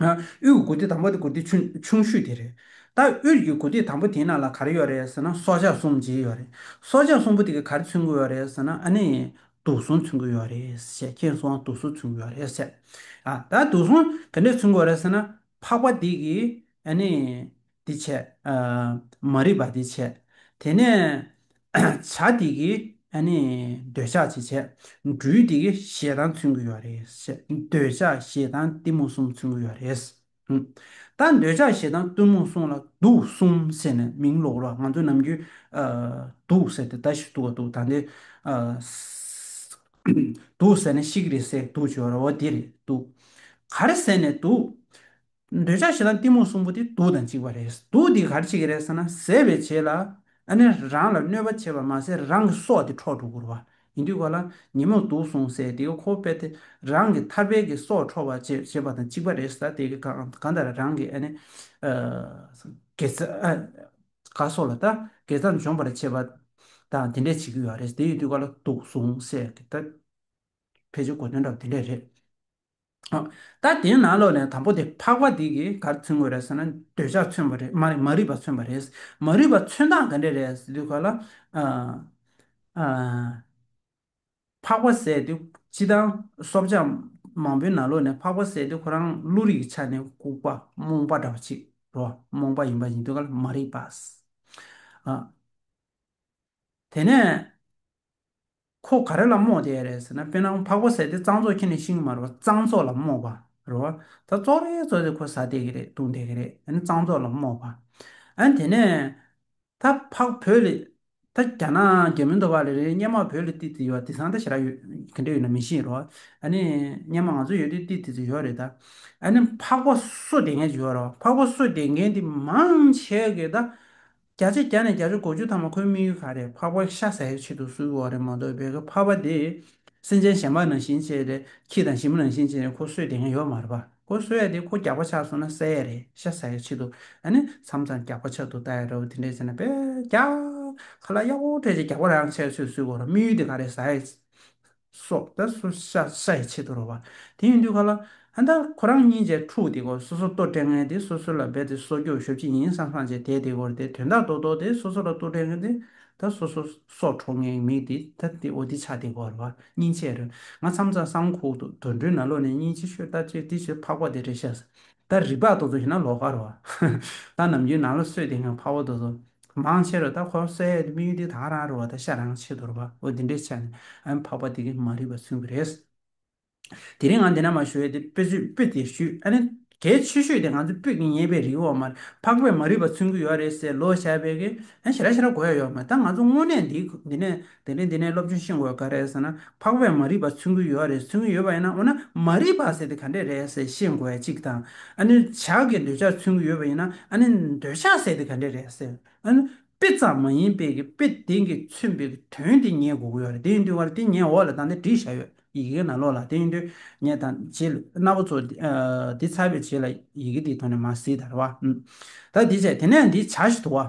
A: དབུས་ཀྱི་དགུ་སྡེ་དང་པོ་དེ་དགུ་སྡེ་ཆུང་ཤོས་དེ་རེད། ད་དབུས་ཀྱི་དགུ་སྡེ་དང་པོ་དེའི་ནང་ལ་ག་རེ་ཡོད་རེད་ཟེར་ན་སྲོག་ཆགས་གསུམ་བརྗེ་ཡོད་རེད། སྲོག་ཆགས་གསུམ་པོ་དེ་ག་རེ་ཚུན་གྱི་ཡོད་རེད་ཟེར་ན་ཨ་ནི། དུག་སྲུང་ཚུན་གྱི་ཡོད་རེད་ཟེར་ཁྱེད་གསུང་བ་དུག་སྲུང་ཚུན་གྱི་ཡོད་རེད་ཟེར། ད་དུག་སྲུང་ག་འདྲས་ཚུན་གྱི་ཡོད་རེད་ཟེར་ན་འཕགས་པ་དེ་གིས་ཨ་ནི། འདི་བྱས། མ་རིག་པ་འདི་བྱས། དེ་ནས། བྱ་འདི་གི། འདོད་ཆགས་འདི་བྱས། འབྲུ་འདི་གི་ཞེ་སྡང་མཚོན་གྱི་ཡོད་རེད། འདོད་ཆགས་ཞེ་སྡང་གཏི་མུག་གསུམ་མཚོན་གྱི་ཡོད་རེད། ད་འདོད་ཆགས་ཞེ་སྡང་གཏི་མུག་གསུམ་ལ་དུག་གསུམ་ཟེར་ནས་མིང་ལོག་རོགས་ང་ཚོ་ནམ་རྒྱུན། དུག་ཟེར་ཏེ་ད་ཞིག་དུག་ག་དུག་ད་འདི། དུག་ཟེར་ནས་ཤི་གི་རེད་ཟེར་དུག་བྱོས་ར་བ་འདི་རེད་དུག། ག་རེ་ཟེར་ནས་དུག། འདོད་ཆགས་ཞེ་སྡང་གཏི་མུག་གསུམ་པོ་དེ་སྡུག་དང་གཅིག་པ་རེད། སྡུག་འདི་གར་བྱེད་ཀྱི་རེད་ཟེར་ན་ཟད་པའི་བྱེད་ལ། ཨ་ནི་རང་ལ་གནོད་པ་བྱེད་པར་མ་ཟད་རང་གི་སྲོག་དེ་འཕྲོག་འགྲོ་དགོས་བ་ཡིན་དུས་གོ་ལ་ཉིན་མོར་སྡུག་སོང་ཟེར་དེ་གི་ཁོ་བོ་དཔེ་དེ་རང་གི་ཐར་པའི་གི་སྲོག་འཕྲོག་བར་བྱེད་བྱེད་པ་དང་གཅིག་པ་རེད་ཟེར་ད་དེ་གི་གང་ལྟར་རང་གི་ཨ་ནི་དགེ་རྩ་ག་སོགས་ལ་ད་དགེ་རྩ་འཇོམས་པར་བྱེད་པ་དང་དེ་འདྲས་བྱེད་ཀྱི་ཡོད་རེད་དེ་ཡིན་དུས་ག་ལ་སྡུག་སོང་ཟེར་གི་ད་ཕལ་ཆེར་གོ་དོན་འདྲ་བ་དེ་འདྲས་རེད། ད་དེའི་ནང་ལོགས་ནས་དང་པོ་དེ་འཕགས་པ་འདི་གིས་གར་མཚོན་དགོས་རེད་ཟེར་ན་འདོད་ཆགས་མཚོན་པ་རེད་མ་མ་རིག་པ་མཚོན་པ་རེད། མ་རིག་པ་མཚོན་སྟངས་ག་འདྲས་རེད་ཟེར་དུས་ག་ལ། འཕགས་པ་ཟེར་དུས་སྤྱི་དང། སོབ་ཆགས་མང་པོའི་ནང་ལོགས་ནས་འཕགས་པ་ཟེར་དུས་ཁོ་རང་བློ་རིག་གི་ཆ་ནས་ལྐུགས་པ་རྨོངས་པ་འདྲ་བ་ཅིག་རོ་རྨོངས་པ་ཡིན་པ་ཡིན་དུས་ག་ལ་མ་རིག་པ། དེ་ནས། ཁོ་ག་རེ་ལ་རྨོངས་ཏེ་རེད་ཟེར་ན་དཔེར་ན་འཕགས་པ་ཟས་དེ་གཙང་བཙོག་ཁྱེར་ནས་ཤིང་དམར་བ་གཙང་བཙོག་ལ་རྨོངས་པ་རེད། ད་བཙོག་རེ་བཙོག་ཟེར་ཁོ་ཟ་བསྡད་ཀྱི་རེད་བཏུང་བསྡད་ཀྱི་རེད་ཨ་ནི་གཙང་བཙོག་ལ་རྨོངས་པ། ཨ་དེ་ནས། ད་འཕགས་བོད་ལི། ད་རྒྱ་ནག་རྒྱ་མི་འདོ་བ་ལི་རེད་སྙན་མ་བོད་ལི་ཏི་ཏི་ཡོད་དེ་སང་ད་ཞེ་ར་ཡོད་གན་འདྲེ་ཡོད་ན་མི་ཤེས་རོགས་ཨ་ནི་སྙན་མ་ང་ཚོ་ཡོད་དེ་ཏི་ཏི་ཏི་ཡོད་རེད་ད། ཨ་ནི་འཕགས་པ་གསོད་བསྡད་མཁན་ཞིག་ཡོད་རེད་འཕགས་པ་གསོད་བསྡད་མཁན་དེ་མང་ཆེ་གེ་ད། བརྒྱ་ཆ་བརྒྱ་ནས་བརྒྱ་ཆ་གོ་བཅུ་ཐ་མ་ཁོའི་དམིགས་ཡུལ་ག་རེད་ཕག་པ་ཤ་ཟ་ཡི་ཆེད་དུ་སུའི་འོག་རེད་མ་གཏོགས་བེ་ག་ཕག་པ་དེ་སེམས་ཅན་གཞན་པ་ནང་བཞིན་བྱས་ཏེ་ཁྱི་དང་ཞི་མི་ནང་བཞིན་བྱས་ནས་ཁོ་གསོད་དེ་ངས་ཡོད་མ་རེད་པ་ཁོ་གསོད་ཡ་དེ་ཁོ་རྒྱག་པ་ཆགས་སོང་ན་བསད་ཡ་རེད་ཤ་ཟ་ཡི་ཆེད་དུ་ཨ་ནི་མཚམས་མཚམས་རྒྱག་པ་ཆགས་འདུག་ལྟ་ཡ་འདྲ་བོ་དེ་འདྲས་བྱས་ན་བེ་རྒྱག་ཁ་ལ་གཡག་འོག་འཕྲད་ཅེས་རྒྱག་པ་རང་ཆགས་ཡོད་ཚོད་སུའི་འོག་རེད་དམིགས་ཡུལ་དེ་ག་རེད་ཟ་ཡི། སོགས་ད་སོ་ཤ་ཤ་ཡི་ཆེད་དུ་རོ་བ། དེ་ཡིན་དུས་ག་ལ། ད་ད་ཁོ་རང་གཉིས་བཅས་འཁྲུགས་དེ་གོ་སོ་སོ་ལྟོ་སྤྲད་ངན་དེ་སོ་སོ་ལ་འབད་དེ་སོ་སྐྱོ་ཞོབ་ཅི་ཡིན་བསམ་བསམ་བྱས་དེ་དེ་གོར་དེ་དོན་དག་རྡོག་རྡོག་དེ་སོ་སོ་ལ་ལྟོ་སྤྲད་ངན་དེ་ད་སོ་སོ་སོ་འཕྲོག་ངན་གྱི་མིག་དེ་ད་དེ་འོ་དེ་ཆ་དེ་གོར་བ་སྙིང་ཆད་རོ། ང་མཚམས་རྩ་གསང་ཁུག་ཏུ་དོར་འདྲུད་ན་ལོ་ནས་གཉིས་ཅི་ཤོད་ད་ཅེ་དེ་ཞེས་ཕག་པ་དེ་རེ་བཤད་ས་ད་རིག་པ་རྡོག་རྡོག་ཞིག་ན་ལོག་ག་རོ། ད་ནམ་རྒྱུན་ནང་ལ་སོས་དེ་ངན་ཕག་པ་རྡོག་རྡོག་མང་ཆེ་རུ་ད་ཁོ་སའི་དམིགས་ཡུལ་དེ་དང་རང་རེ་བ་ད་ཤ་རང་ཆེ་དོར་བའོ་དེ་འདྲའི་ཆ་ནས་འཕགས་པ་དེ་གས་མ་རིག་པ་མཚོན་གི་རེད། དེ་རིང་ང་འདི་ན་མ་ཞུ་བས་དེ་དཔེ་བཟོས་དཔེ་དེ་ཞུས་ཨ་ནི་གལ་ཆེ་ཤོས་དེ་ང་ཚོ་དཔོད་ཀྱི་ཉེས་པའི་རིགས་འོག་མར་འཕགས་པས་མ་རིག་པ་མཚོན་གི་ཡོད་རེད་ཟེར་ལོ་བྱས་པས་ཀས་ཨ་ཞེ་ར་ཞེ་ར་གོ་ཡ་ཡོད་མ་ད་ང་ཚོ་དངོས་གནས་འདི་ནས་དེ་ནས་འདི་ནས་སློབ་ཆུང་ཤེས་དགོས་ག་རེད་ཟེར་ན་འཕགས་པས་མ་རིག་པ་མཚོན་གྱི་ཡོད་རེད་མཚོན་གྱི་ཡོད་པ་ཡིན་ན་འོ་ན་མ་རིག་པ་ཟེར་དེ་ག་འདྲས་རེད་ཟེར་ཤེས་དགོས་ཡ་གཅིག་དང་ཨ་ནི་ཇག་གི་འདོད་ཆགས་མཚོན་གྱི་ཡོད་པ་ཡིན་ན་ཨ་ནི་འདོད་ཆགས་ཟེར་དེ་ག་འདྲས་རེད་ཟེར་ཨ་ནི་དཔེ་ཙམ་མ་ཡིན་པའི་གི་དཔེ་དེང་གི་མཚོན་པའི་གི་དོན་དེ་ངེས་དགོས་གི་ཡོད་རེད་དེ་ཡིན་དུས་ངར་དེ་ངས་འོག་ལ་དང་དེ་བྲིས་བཞག་ཡོད་ཡི་གེ་ན་ལོག་ལ་དེ་ཡིན་དུས་ངས་དང་རྗེས་ལུས་སྣ་བོ་ཚོ་དེ་ཚར་བའི་རྗེས་ལ་ཡི་གེ་དེའི་ཐོག་ནས་མ་གཟིགས་དར་བ་ད་དེ་བྱས་དེ་ནས་འདི་བྱ་ཞིག་དུ་བ།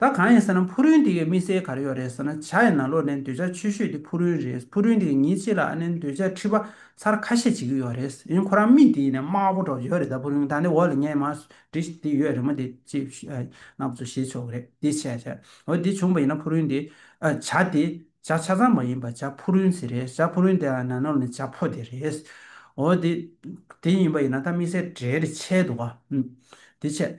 A: ད་གང་ཡིན་ཟེར་ན་ཕུ་རུན་དེའི་དམིགས་བསལ་ག་རེ་ཡོད་རེད་ཟེར་ན་བྱ་ཡི་ན་ལོ་ནས་འདོད་ཆགས་ཆོས་ཤོས་དེ་ཕུ་རུན་རེད་ཕུ་རུན་དེའི་ཉིན་གཅིག་ལ་ཨ་ནེ་འདོད་ཆགས་ཁྲི་པ་ཚར་ཁ་ཤས་བྱེད་ཀྱི་ཡོད་རེད་ཡིན་ཁོ་རང་མི་དེའི་ནས་དམའ་བོ་འགྲོ་ཡོད་རེད་ད་ཕུ་རུན་ད་ནི་འོག་ལ་ཉན་མ་འདྲི་དེ་ཡོད་རེད་མོ་དེ་ཅི་ན་བཟོ་བྱེད་ཆོག་གི་རེད་དེ་བྱས་བྱས་འོ་དེ་བྱུང་བ་ཡིན་ན་ཕུ་རུན་དེ་བྱ་དེ་བྱ་ཆ་ཚང་མ་ཡིན་པ་བྱ་ཕུ་རུན་ཟེར་རེད་བྱ་ཕུ་རུན་དེ་ལ་ན་ནོར་ནི་བྱ་ཕོ་དེ་རེད་འོ་དེ་དེ་ཡིན་པ་ཡིན་ན་ད་དམིགས་བསལ་གྲལ་རེ་ཆད་འདུག་ག་དེ་བྱས།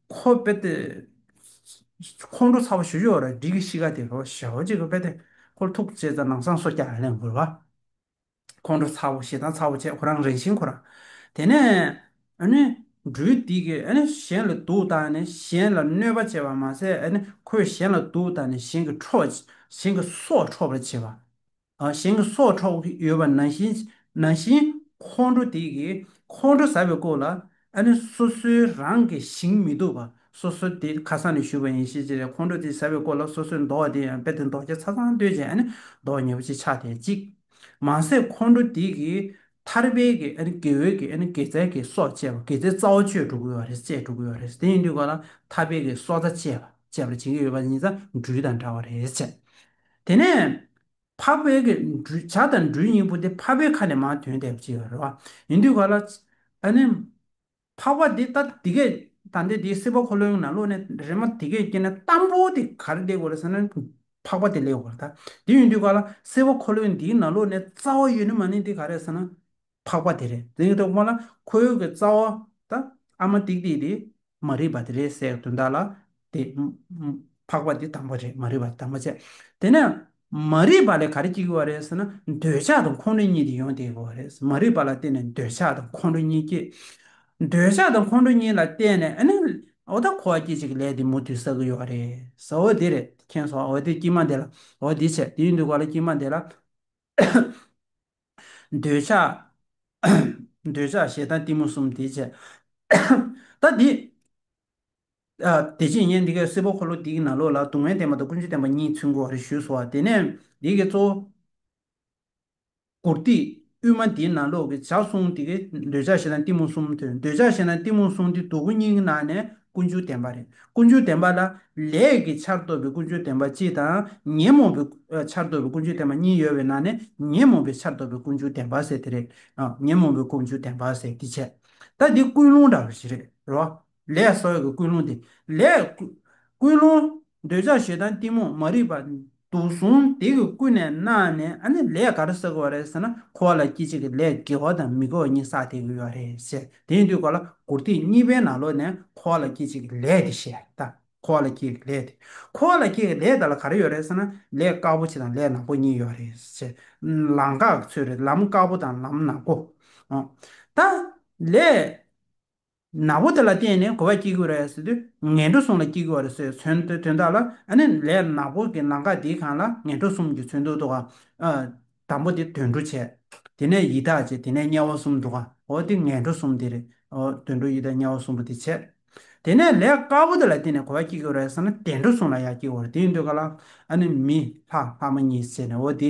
A: ཁོ་དཔེ་དེབ་ཁོང་ཁྲོ་ཚ་བོ་ཞུ་ཞོར་སྒྲིག་གི་གཤིས་ཀ་དེ་ཞོ་ཞོ་གཅིག་གི་དཔེ་དེབ་ཁོར་ཐུག་བཅད་ཙང་ནང་སང་སོ་སྐྱ་ལན་དགོས་པ། ཁོང་ཁྲོ་ཚ་བོ་ཞེ་སྡང་ཚ་བོ་བྱས་ཁོ་རང་རེངས་ཤིང་ཁོ་རང། དེ་ནས། ཨ་ནི། འགྲུལ་འདི་གིས་ཨ་ནི་གཞན་ལ་སྡུག་ད་ནི་གཞན་ལ་གནོད་པ་བྱས་པ་མ་ཟད་ཨ་ནི་ཁོས་གཞན་ལ་སྡུག་ད་ནི་གཞན་གྱི་ཁྲོ་གཞན་གྱི་སྲོག་འཕྲོག་པར་བྱེད་པ། གཞན་གྱི་སྲོག་འཕྲོག་གི་ཡོད་པ་ན་བཞིན་ན་བཞིན་ཁོང་ཁྲོ་དེ་གིས་ཁོང་ཁྲོ་ཟ་བའི་སྐོར་ལ་ཨ་ནི་སོ་སོའི་རང་གི་ཞིང་མི་སྡུག་པ་སོ་སོ་དེ་ཁ་སང་ནས་བཞུད་པ་ཡིན་ཤེས་ཅི་རེད་ཁོང་ཁྲོ་དེ་ཟ་བའི་སྐོར་ལ་སོ་སོས་མདོག་བ་དེ་ཡང་དཔེ་དེ་མདོག་ཆ་ཚ་ཚང་ལྟོས་ཅན་ཨ་ནི་མདོག་ཉེ་བོ་ཅིག་ཆགས་བསྡད་ཅིག་མ་ཟད་ཁོང་ཁྲོ་དེ་གིས་ཐར་པའི་གི་ཨ་ནི་དགེ་འོས་གི་ཨ་ནི་དགེ་རྩའི་གི་སྲོག་བཅད་པ་དགེ་རྩའི་རྩ་བ་གཅོད་འགྲོ་གི་ཡོད་རེད་བཅད་འགྲོ་གི་ཡོད་རེད་དེ་ཡིན་དུས་ག་ལ་ཐར་པའི་གི་སྲོག་རྩ་བཅད་པ་བཅད་པར་བྱེད་ཀྱི་ཡོད་པ་ཉིད་རྩ་འགྲུལ་དང་འདྲ་བ་རེད་བཅད། དེ་ནས། འཕགས་པའི་བྱ་དང་འབྲུའི་སྙིང་པོ་འདི་འཕགས་པའི་ཁ་ནས་མ་ཐོན་ཏེ་ཅེས་པ་རེད་བ། ཡིན་དུས་ག་ལ། ད་ནི། འཕགས་པ་འདི་ལྟ་འདི་སྐད་ད་འདི་དེའི་སྲིད་པ་འཁོར་ལོའི་ནང་བློ་ནི་རེ་མ་དེ་སྐད་སྐྱེས་ན་གཏང་པོ་དེ་ག་རེ་ལེགས་བ་རེད་ཟེར་ན། འཕགས་པ་དེ་ལེགས་བ་རེད་ད། དེ་ཡིན་དུས་ག་ལ་སྲིད་པ་འཁོར་ལོའི་འདིའི་ནང་བློ་ནི་རྩ་བ་ཡོད་ནི་མ་ནི་འདི་ག་རེད་ཟེར་ན། འཕགས་པ་དེ་རེད་ཟེར་གྱི་འདུག་སྔོན་ལ་ཁོ་ཡུལ་གྱི་རྩ་བ་དང་ཨ་མ་ཏིག་ཏིག་དེ་མ་རིག་པ་དེ་རེད་ཟེར་གྱི་འདུག་བདག་ལ་དེ། འཕགས་པ་དེ་དང་པོ་རེད་མ་རིག་པ་དེ་དང་པོ་བྱས། དེ་ནས་མ་རིག་པ་ལས་ག་རེ་སྐྱེ་དགོས་པ་རེད་ཟེར་ན་འདོད་ཆགས་དང་ཁོང་ཁྲོ་གཉིས་དེ་ཡོང་སྟེ་དགོས་པ་རེད་ཟེར་མ་རིག་པ་ལ་བརྟེན་ནས་འདོད་ཆགས་དང་ཁོང་ཁྲོ་གཉིས་སྐྱེས། འདོད་ཆགས་དང་ཁོང་ཁྲོ་གཉིས་ལ་བརྟེན་ནས་ཨ་ནི་འོ་ད་ཁོ་བ་སྐྱེ་བྱེད་ཀྱི་ལས་དེ་མུ་མཐུད་བསགས་ཀྱི་ཡོད་པ་རེད་ཟེར་འོ་དེ་རེད་མཁྱེན་སོང་འོ་དེ་སྐྱིད་མ་དེ་ལ་འོ་དེ་བྱས་དེ་ཡིན་འདུག་ག་ལ་སྐྱིད་མ་དེ་ལ། འདོད་ཆགས། འདོད་ཆགས་ཞེ་སྡང་གཏི་མུག་གསུམ་དེའི་ཕྱིར། ད་དེ། དེ་ཕྱིར་ངས་འདི་སྐད་སེར་པོ་འཁོར་ལོ་འདི་ཡི་ནང་ལོགས་ལ་སྡུག་བསྔལ་བསྟན་པ་དང་ཀུན་སྤྱོད་བསྟན་པ་གཉིས་ཚུན་གོ་རེ་ཞུས་སོ། དེ་ནས་འདི་སྐད་གཙོ་བོ། གུར་ཏི་དབུས་མ་འདིའི་ནང་ལོགས་ཀྱི་བྱ་གསུང་དེ་ཀའི་འདོད་ཆགས་ཞེ་སྡང་གཏི་མུག་གསུམ་ཐོས། འདོད་ཆགས་ཞེ་སྡང་གཏི་མུག་གསུམ་དེ་སྡུག་གུ་གཉིས་ཀྱི་ནང་ནས་ཀུན་སྤྱོད་བདེན་པ་རེད། ཀུན་སྤྱོད་བདེན་པ་ལ། ལས་ཀྱི་ཆར་གཏོད་པའི་ཀུན་སྤྱོད་བདེན་པ་སྤྱི་དང། ཉོན་མོངས་པའི། ཆར་གཏོད་པའི་ཀུན་སྤྱོད་བདེན་པ་གཉིས་ཡོད་པའི་ནང་ནས་ཉོན་མོངས་པའི་ཆར་གཏོད་པའི་ཀུན་སྤྱོད་བདེན་པ་ཟེར་དེ་རེད། ཉོན་མོངས་པའི་ཀུན་སྤྱོད་བདེན་པ་ཟེར་དེ་བྱས། ད་འདི་ཀུན་སློང་འདྲ་བ་ཞིག་རེད་རོ། ལས་སོགས་ཀྱི་ཀུན་སློང་དེ། ལས། ཀུན་སློང། འདོད་ཆགས་ཞེ་སྡང་གཏི་མུག་མ་རིག་པ། དུ་བཟུང་སྟེ་གིས་ཀུན་ནས་གནང་ནས་ཨ་ནི་ལས་ག་རེ་བསགས་པ་རེད་ཟེར་ན་ཁོ་བ་ལ་སྐྱིད་ཅིག་གི་ལས་དགེ་བ་དང་མི་དགེ་བ་གཉིས་བསགས་ཐེབས་ཀྱི་ཡོད་རེད་ཟེར་དེ་ཡིན་དུས་གོ་ལ་མགུར་ཐིག་གཉིས་པའི་ནང་ལོག་ནས་ཁོ་བ་ལ་སྐྱིད་ཅིག་གི་ལས་དེ་ཞེས་ད་ཁོ་བ་ལ་སྐྱིད་ཀྱི་ལས་དེ་ཁོ་བ་ལ་སྐྱིད་ཀྱི་ལས་དེ་ལ་ག་རེ་ཡོད་རེད་ཟེར་ན་ལས་དཀར་པོ་གཅིག་དང་ལས་ནག་པོ་གཉིས་ཡོད་རེད་ཟེར་ལམ་འགག་ཚུལ་རེད་ལམ་དཀར་པོ་དང་ལམ་ནག་པོ་ད་ལས། ནག་པོ་དེ་ལ་བརྟེན་ནས་གོ་བ་སྐྱེ་གི་རེད་ཟེར་དུས་ངན་འགྲོ་གསུམ་ལ་སྐྱེ་གི་རེད་ཟེར་བའི་དོན་དོན་དག་ལ་ཨ་ནི་ལས་ནག་པོ་གི་ནང་དགའ་དེའི་གང་ལ་ངན་འགྲོ་གསུམ་གྱི་ཚུལ་འདུག་འདུག་ག་ཨ། དང་པོ་དེ་དོན་འགྲོ་བྱས། དེ་ནས་ཡི་དྭགས་བྱས་དེ་ནས་དམྱལ་བ་གསུམ་འདུག་ག་ཨོ་དེ་ངན་འགྲོ་གསུམ་དེ་རེད་ཨོ། དོན་འགྲོ་ཡི་དྭགས་དམྱལ་བ་གསུམ་པོ་དེ་བྱས། དེ་ནས་ལས་དཀར་པོ་དེ་ལ་བརྟེན་ནས་གོ་བ་སྐྱེ་གི་རེད་ཟེར་ན་དེ་འགྲོ་གསུམ་ལ་ཡང་སྐྱེ་གི་རེད་དེ་འདུག་ག་ལ་ཨ་ནི་མི་ལྷ་ལྷ་མོ་གཉིས་བྱས་ནས་ཨོ་དེ།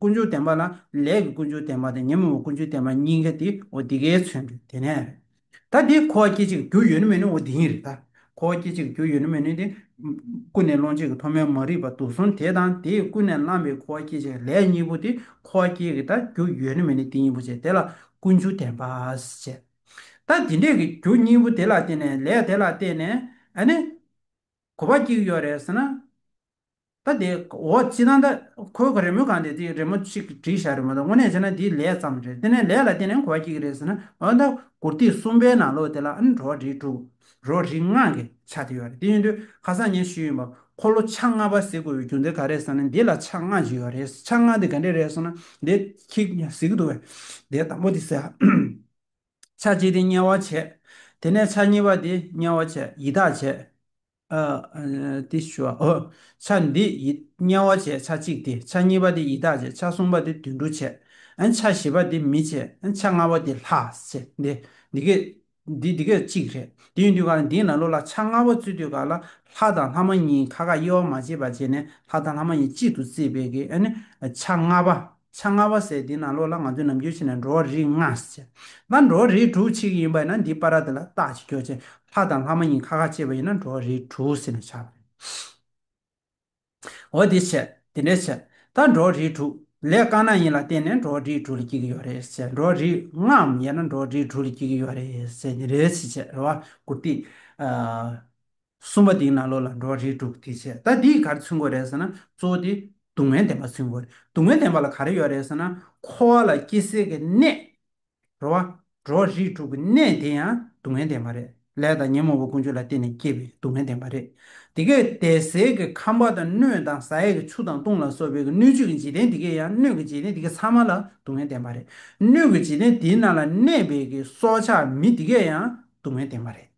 A: ཀུན་སྦྱོར་བདེན་པ་ལ་ལས་ཀྱི་ཀུན་སྦྱོར་བདེན་པ་དང་ཉོན་མོངས་པའི་ཀུན་སྦྱོར་བདེན་པ་གཉིས་ཀ་དེའོ་འདི་གའི་མཚོན་དོན་དེ་ནས་རེད། ད་དེ་འཁོར་བ་སྐྱེ་འཆི་གི་རྒྱུ་ཡོད་ནི་མེད་ནིའོ་འདི་ཡིན་རེད། ད་འཁོར་བ་སྐྱེ་འཆི་གི་རྒྱུ་ཡོད་ནི་མེད་ནི་དེ། ཀུན་ནས་སློང་བྱེད་ཀྱི་ཐོག་མའི་མ་རིག་པ་དུག་གསུམ་དེ་དང་དེས་ཀུན་ནས་བསླངས་པའི་འཁོར་བ་སྐྱེ་འཆི་གི་ལས་གཉིས་པོ་དེ་འཁོར་བ་སྐྱེ་གི་ད་རྒྱུ་ཡོད་ནི་མེད་ནི་དེ་གཉིས་པོ་བྱེད་དེ་ལ་ཀུན་སྦྱོར་བདེན་པ་བྱེད། ད་དེ་འདྲས་ཀྱི་རྒྱུ་གཉིས་པོ་དེ་ལ་བརྟེན་ནས་ལས་དེ་ལ་བརྟེན་ནས་ཨ་ནི། འཁོར་བ་སྐྱེ་གི་ཡོད་རེད་ཟེར་ན། ད་དེ་འོ་ཅི་ད་ད་ཁོའི་ག་རེ་མོས་གང་དེ་དེ་རེ་མོ་ཅིག་བྲིས་བཞག་རེ་མོ་ད་དངོས་གནས་བྱས་ན་དེ་ལས་ཙམ་རེད་དེ་ནས་ལས་ལ་བརྟེན་ནས་གོ་བ་སྐྱིད་ཀྱི་རེད་ཟེར་ན་འོ་ད་གུར་སྟེགས་གསུམ་པའི་ནང་ལོགས་དེ་ལ་ཨང་གྲོ་རེ་དྲུག་རོ་རེ་ལྔ་གི་ཆ་དེ་ཡོད་རེད་དེ་ཡིན་དུས་ཁ་སང་ངས་ཞུས་ཡིན་པ་ཁོ་ལོ་ཆ་ལྔ་པ་ཟིག་དགོས་པའི་རྒྱུ་མཚན་ག་རེད་ཟེར་ན་འདི་ལ་ཆ་ལྔ་ཅིག་ཡོད་རེད་ཆ་ལྔ་དེ་ག་འདྲས་རེད་ཟེར་ན་དེ་ཁྱི་ཟིག་གི་འདུག་བས་དེ་དང་པོ་དེ་ཟེར་ཆ་གཅིག་དེ་དམྱལ་བ་བྱས་དེ་ནས་ཆ་གཉིས་པ་དེ་དམྱལ་བ་བྱས་ཡི་དྭགས་བྱས། ཏི་བཞི་བ། ཆ་འདི་ཡིད་དམྱལ་བ་བྱས་ཆ་གཅིག་སྟེ་ཆ་གཉིས་པ་དེ་ཡི་དྭགས་བྱས་ཆ་གསུམ་པ་དེ་དུད་འགྲོ་བྱས། ཆ་བཞི་པ་དེ་མི་བྱས་ཆ་ལྔ་པ་དེ་ལྷ་བྱས། འདི་སྐད་དེ་སྐད་ཅིག་རེད། དེ་ཡིན་དུས་ག་ལ་འདིའི་ནང་ལོགས་ལ་ཆ་ལྔ་པ་བཙུད་དུས་ག་ལ་ལྷ་དང་ལྷ་མ་གཉིས་ཁ་ཁ་དབྱེ་བ་མ་བྱས་པ་བྱས་ནས་ལྷ་དང་ལྷ་མ་གཉིས་གཅིག་ཏུ་བརྩིས་པས་ཀྱི་ནི་ཆ་ལྔ་པ། ཆ་ལྔ་བ་ཟེར་དེ་ནང་ལོགས་ལ་ང་ཚོས་ནམ་རྒྱུན་ཤེས་ནས་འགྲོ་བ་རིགས་ལྔ་ཟེར། ད་འགྲོ་བ་རིགས་དྲུག་ཆིག་ཡིན་པ་ན་འདི་པ་ར་དེ་ལ་རྟགས་ཅི་འཁྱོག་ཅན་ལྷ་དང་ལྷ་མ་ཡིན་ཁ་ཁ་ཅེས་པ་ཡིན་ན་འགྲོ་བ་རིགས་དྲུག་ཟེར་ནས་བྱ། འོ་དེ་བྱས་དེ་འདྲ་བྱས། ད་འགྲོ་བ་རིགས་དྲུག་ལས་དཀར་ནག་གཉིས་ལ་བརྟེན་ནས་འགྲོ་བ་རིགས་དྲུག་ལ་སྐྱེ་གི་ཡོད་རེད་ཟེར་འགྲོ་བ་རིགས་ལྔའམ་ཡང་ན་འགྲོ་བ་རིགས་དྲུག་ལ་སྐྱེ་གི་ཡོད་རེད་ཟེར་དེ་འདྲ་བྱས་བྱས་རེད་བ་གུར་ཏི། གསུམ་པ་དེའི་ནང་ལོགས་ལ་འགྲོ་བ་རིགས་དྲུག་དེ་བྱེད་ད་འདིས་ག་རེ་མཚོན་དགོས་རེད་ཟེར་ན་གཙོ་བོ་དེ་སྡུག་བསྔལ་བདེན་པ་མཚོན་དགོས་རེད་སྡུག་བསྔལ་བདེན་པ་ལ་ག་རེ་ཡོད་རེད་ཟེར་ན་འཁོར་བ་ལ་སྐྱེ་སྲིད་ཀྱི་གནས། རོ་བ། འགྲོ་བ་རིགས་དྲུག་གི་གནས་དེ་ཡང་སྡུག་བསྔལ་བདེན་པ་རེད་ལས་དང་ཉོན་མོངས་པ་ཀུན་སྤྱོད་ལ་བརྟེན་ནས་སྐྱེས་པའི་སྡུག་བསྔལ་བདེན་པ་རེད་དེ་གས་ཏེ་ཟས་ཀྱི་ཁམས་བ་དང་སྣོད་དང་ཟ་ཡས་ཀྱི་ཆུ་དང་བཏུང་ལ་སོགས་པའི་ཀྱི་སྣོད་བཅུད་ཀྱི་འཇིག་རྟེན་དེ་གས་ཡང་སྣོད་ཀྱི་འཇིག་རྟེན་དེ་གས་ཚང་མ་ལ་སྡུག་བསྔལ་བདེན་པ་རེད་སྣོད་ཀྱི་འཇིག་རྟེན་དེའི་ནང་ལ་གནས་པའི་ཀྱི་སྲོག་ཆགས་མི་དེ་གས་ཡང་སྡུག་བསྔལ་བདེན་པ་རེད།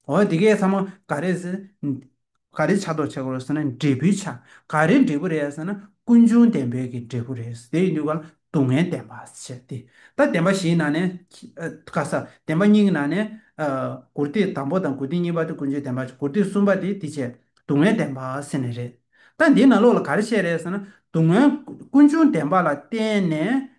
A: འོ་འདི་གས་ཚང་མ་ག་རེ་ཟེར། ག་རེ་ཆགས་འདོག་བྱེད་དགོས་ཟེར་ན་འབྲས་བུའི་ཆ་ག་རེ་འབྲས་བུ་རེད་ཟེར་ན་ཀུན་འབྱུང་བདེན་པའི་གི་འབྲས་བུ་རེད་དེ་ཡིན་དུས་ག་ལ་སྡུག་བསྔལ་བདེན་པ་ཟེར་ཏེ། ད་བདེན་པ་བཞིའི་ནང་ནས། ཁ་གསལ་བདེན་པ་གཉིས་ཀྱི་ནང་ནས། དགུར་སྡེ་དང་པོ་དང་དགུར་སྡེ་གཉིས་པ་དེ་ཀུན་འབྱུང་བདེན་པ་ཆགས་དགུར་སྡེ་གསུམ་པ་དེ་དེ་བྱས་སྡུག་བསྔལ་བདེན་པ་ཟེར་ནི་རེད། ད་འདིའི་ནང་ལོགས་ལ་ག་རེ་བཤད་རེད་ཟེར་ན་སྡུག་བསྔལ་ཀུན་འབྱུང་བདེན་པ་ལ་བརྟེན་ནས་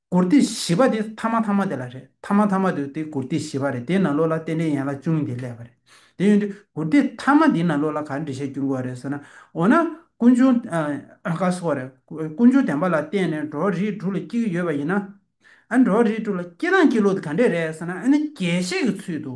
A: མགུར་འདི་བཞི་པ་དེ་ཐ་མ་ཐ་མ་དེ་ལ་རེད་ཐ་མ་ཐ་མ་དེ་དེ་མགུར་འདི་བཞི་པ་རེད་དེ་ན་ལོ་ལ་རྟེན་འབྲེལ་ཡན་ལག་ཅུང་འདི་ལས་པ་རེད་དེ་ཡོང་དུས་མགུར་འདི་ཐ་མ་འདི་ན་ལོ་ལ་གར་འབྲི་བྱེད་སྐྱོན་གོ་རེད་ཟེར་ན་འོ་ན་ཀུན་འབྱུང་ཀ་སོགས་རེད་ཀུན་འབྱུང་བདེན་པ་ལ་བརྟེན་ནས་འགྲོ་བ་རིགས་དྲུག་ལ་སྐྱེ་གི་ཡོད་པ་ཡིན་ན་འགྲོ་བ་རིགས་དྲུག་ལ་སྐྱེ་སྟངས་སྐྱེ་ལུགས་དེ་ག་འདྲས་རེད་ཟེར་ན་ཨ་ནི་རྒྱས་བཤད་ཀྱི་ཚུལ་དུ།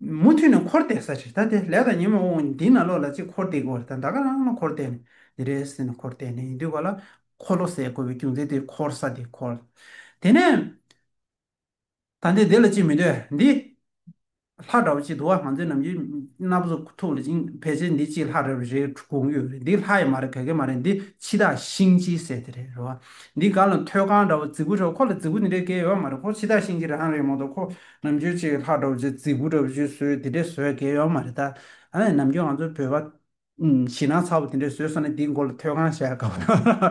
A: མུ་མཐུད་ནས་འཁོར་འདས་ས་ཕྱིར་ད་དེ་ལས་དང་ཉི་མ་དབང་འདི་ན་ལོག་ལ་ཅིག་འཁོར་འདས་གོ་བར་ད་ད་ག་རང་ལ་འཁོར་འདས་ནི་འདི་རེད་ཟེར་ནས་འཁོར་འདས་ནི་ཡིན་དུས་བ་ལ་འཁོར་ལོ་ཟེར་དགོས་པའི་རྒྱུ་མཚན་དེ་འཁོར་ས་དེ་འཁོར། དེ་ནས། ད་འདི་འདི་ལ་ཅིག་མི་འདོད་འདི། ལྷ་འདྲ་བ་ཅིག་འདུག་ང་ཚོའི་ནམ་རྒྱུན་སྣ་བུག་ཐུག་ལ་ཅིག་ཕལ་ཆེར་འདི་ཅིག་ལྷ་རེད་བ་རེད་དགོངས་ཡོད་རེད་འདི་ལྷ་ཡི་མ་རེད་ག་གེ་མ་རེད་འདི་ཕྱི་ཐག་ཤིང་སྤྱིའི་ཟེར་དེ་རེད་རེད་བ། འདི་ག་ལ་ཐོད་རྐང་འདྲ་བ་རྫི་གུ་འདྲ་བ་ཁོ་ལ་རྫི་གུ་འདི་འདྲའི་གེ་ཡོད་བ་མ་རེད་ཁོ་ཕྱི་ཐག་ཤིང་སྤྱི་རང་རེད་མོ་འདུག་ཁོ་ནམ་རྒྱུན་ཅིག་ལྷག་འགྲོ་བ་ཆེ་རྫིག་པོ་འདྲ་བོ་ཅིག་བཟོས་དེ་འདྲའི་བཟོས་དགེ་ཡོད་མ་རེད་ད། ནམ་རྒྱུན་ང་ཚོ་བོད་པ། ཞིང་ནང་ཚ་བོ་དེ་འདྲའི་བཟོས་སོང་ནས་དེའི་མགོ་ལ་ཐོད་རྐང་བཞག་གམ།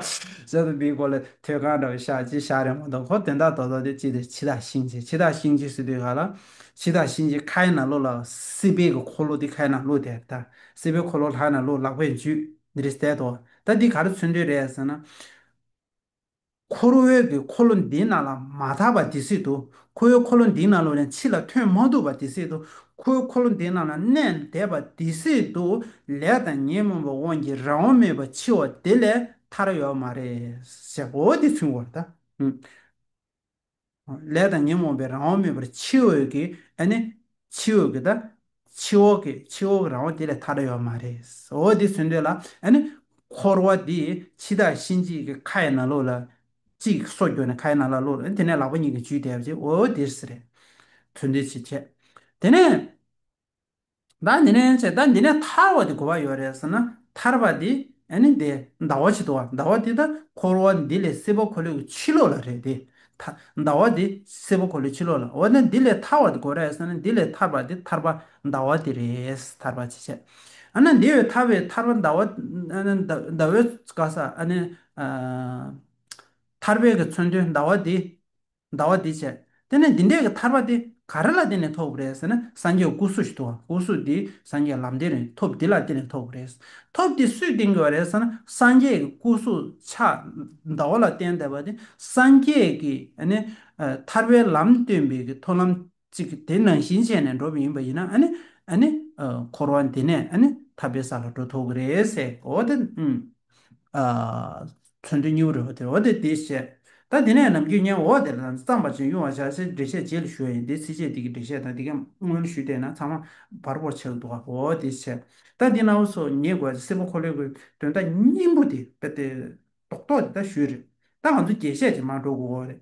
A: བཟོས་ཏེ་དེའི་མགོ་ལ་ཐོད་རྐང་འདྲ་བོ་བཞག་ཅིག་བཞག་རེ་མ་གཏོགས་ཁོ་དོན་དག་རྡོག་རྡོག་དེ་ཅི་དང་ཇི་དང་ཤིང་ཅིག་ཇི་དང་ཤིང་ཅིག་ཟེར་དུས་ག་ལ། ཇི་དང་ཤིང་ཅིག་ཁའི་ནང་ལོགས་ལ་སྲིད་པའི་གི་འཁོར་ལོ་དེ་ཁའི་ནང་ལོགས་དེར་ད། སྲིད་པའི་འཁོར་ལོ་ལྷའི་ནང་ལོགས་ལག་པས་འཇུས། འདི་རེ་བསད་དོ། ད་འདི་ག་རེ་མཚོན་དོན་རེད་ཟེར་ན། ཁོར་འོད་ཀྱི་འཁོར་ལོ་འདི་ནང་ལ་མ་དག་པ་དེ་སྲིད་དུ་ཁོ་བོའི་འཁོར་ལོ་འདི་ནང་ལོ་ལན་ཕྱི་ལ་ཐོན་མ་ཐུབ་པ་དེ་སྲིད་དུ་ཁོ་བོའི་འཁོར་ལོ་འདི་ནང་ལ་གནས་འདས་པ་དེ་སྲིད་དུ་ལས་དང་ཉོན་མོངས་པའི་དབང་གིས་རང་དབང་མེད་པར་འཆི་བ་དེ་ལས་ཐར་ཡོད་མ་རེད། འོ་དེ་ཚུན་བར་ད། ལས་དང་ཉོན་མོངས་པའི་རང་དབང་མེད་པར་ཕྱི་འོས་ཀྱི་ཨ་ནི། ཕྱི་འོས་ཀྱི་དང། ཕྱི་འོག་གི་ཕྱི་འོག་གི་རང་དབང་དེ་ལས་ཐར་ཡོད་མ་རེད། འོ་དེ་ཚོད་འདོད་ལ་ཨ་ནི། འཁོར་བ་འདི་འཆི་བདག་གཤིན་རྗེའི་གི་ཁ་ཡི་ན་ལོག་ལ། ཅིག་གསོ་རྒྱོ་ནས་ཁ་ཡི་ན་ལ་ལོག་ལ་དེ་ནས་ལག་པ་གཉིས་ཀྱིས་འཇུས་བསྡད་པ་ཅིག་འོ་དེར་སེ་རེད། ཚོད་འདོད་ཅིག་བྱས། དེ་ནས། བདག་འདི་ནས་ཚེ་བདག་འདི་ནས་ཐར་བ་དེ་གོ་བ་ཡོད་རེད་ཟེར་ན་ཐར་པ་དེ་ནི་དེ་ཟླ་བ་ཇི་ལྟ་བ་ཟླ་བ་དེ་དང་འཁོར་བ་འདི་ལས་སྲིད་པ་འཁོར་ལོས་ཀྱི་ཕྱི་ལོགས་ལ་རེད་དེ། ཟླ་བ་དེ་སྲིད་པ་འཁོར་ལོའི་ཕྱི་ལོགས་ལ་འོ་ན་འདི་ལས་ཐར་བ་དེ་གོ་རེད་ཟེར་ན་འདི་ལས་ཐར་པ་དེ་ཐར་པ་ཟླ་བ་དེ་རེད་ཐར་པ་ཇི་བྱེད་ཨ་ན་འདི་བས་ཐར་བའི་ཐར་པ་ཟླ་བ་ཨ་ན་ཟླ་བའི་སྐ་ས་ཨ་ན། ཐར་པའི་གི་མཚོན་དོན་ཟླ་བ་དེ། ཟླ་བ་འདི་བྱས། དེ་ནས་འདི་འདྲས་ཀྱི་ཐར་པ་དེ་ག་རེ་ལ་བརྟེན་ནས་ཐོབ་རེད་ཟེར་ན་སངས་རྒྱས་སྐུ་གཟུགས་ཞིག་ཐོབ་བམ་སྐུ་གཟུགས་དེ་སངས་རྒྱས་ལམ་བདེན་རེད་ཐོབ་འདི་ལ་བརྟེན་ནས་ཐོབ་རེད། ཐོབ་དེ་སུས་བསྟན་དགོས་པ་རེད་ཟེར་ན་སངས་རྒྱས་ཀྱི་སྐུ་གཟུགས་ཕྱག་ཟླ་བ་ལ་བརྟེན་བསྡད་པ་དེ་སངས་རྒྱས་ཀྱི་ཐར་པའི་ལམ་སྟོན་པའི་གི་མཐོང་ལམ་ཅིག་དེ་ནང་བཞིན་བྱས་ནས་འགྲོ་བ་ཡིན་པ་ཡིན་ན་ཨ་ནི་འཁོར་བ་འདི་ནས་ཨ་ནི་ཐར་པའི་ས་ལ་འགྲོ་ཐུབ་ཀྱི་རེད་ཟེར་གི་འོ་དེ་མཚོན་དོན་སྙིང་བོ་རེད་འོ་དེ་འོ་དེ་དེ་བཤད་ད་དེ་ནས་ནམ་རྒྱུན་བརྙན་འོ་དེ་ལ་བརྩམས་པ་བཞིན་དབྱུང་བ་བྱ་ཚེ་འགྲེལ་བཤད་རྗེས་ལ་ཞུ་བ་ཡིན་དེ་ཚེ་རྗེས་འདི་གི་འགྲེལ་བཤད་དང་འདི་ག་དངོས་ལ་ཞུས་བལྟས་ན་ཚང་མ་བར་བོར་ཆགས་ཀྱི་འདུག་ག་འོ་དེ་བཤད་ད་འདི་གནའ་བོ་སོ་ཉེས་དགོས་ཚེ་སེར་པོ་འཁོར་ལོའི་གོས་དོན་དག་སྙིང་པོ་དེ་རྟོག་རྟོག་དེ་ད་ཞུས་རེད་ད་ང་ཚོ་རྒྱས་བཤད་ཅིག་མ་འགྲོ་དགོས་འོ་རེད།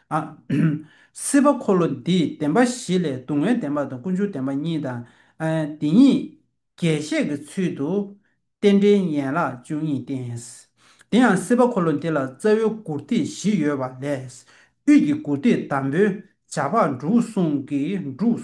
A: སྲིད་པ་འཁོར་ལོ་འདིས་བདེན་པ་བཞི་ལས་སྡུག་བསྔལ་བདེན་པ་དང་ཀུན་འབྱུང་བདེན་པ་གཉིས་དང། འདི་གཉིས་རྒྱས་བཤད་ཀྱི་ཚུལ་དུ། རྟེན་འབྲེལ་ཡན་ལག་བཅུ་གཉིས་བསྟན། དེ་ཡང་སྲིད་པ་འཁོར་ལོ་འདི་ལ་རྩ་བའི་མགུར་ཐིག་བཞི་ཡོད་པ་ལས། དབུས་ཀྱི་མགུར་ཐིག་དང་པོའི་བྱ་ཕག་འབྲུག་གསུང་གིས་འབྲུག།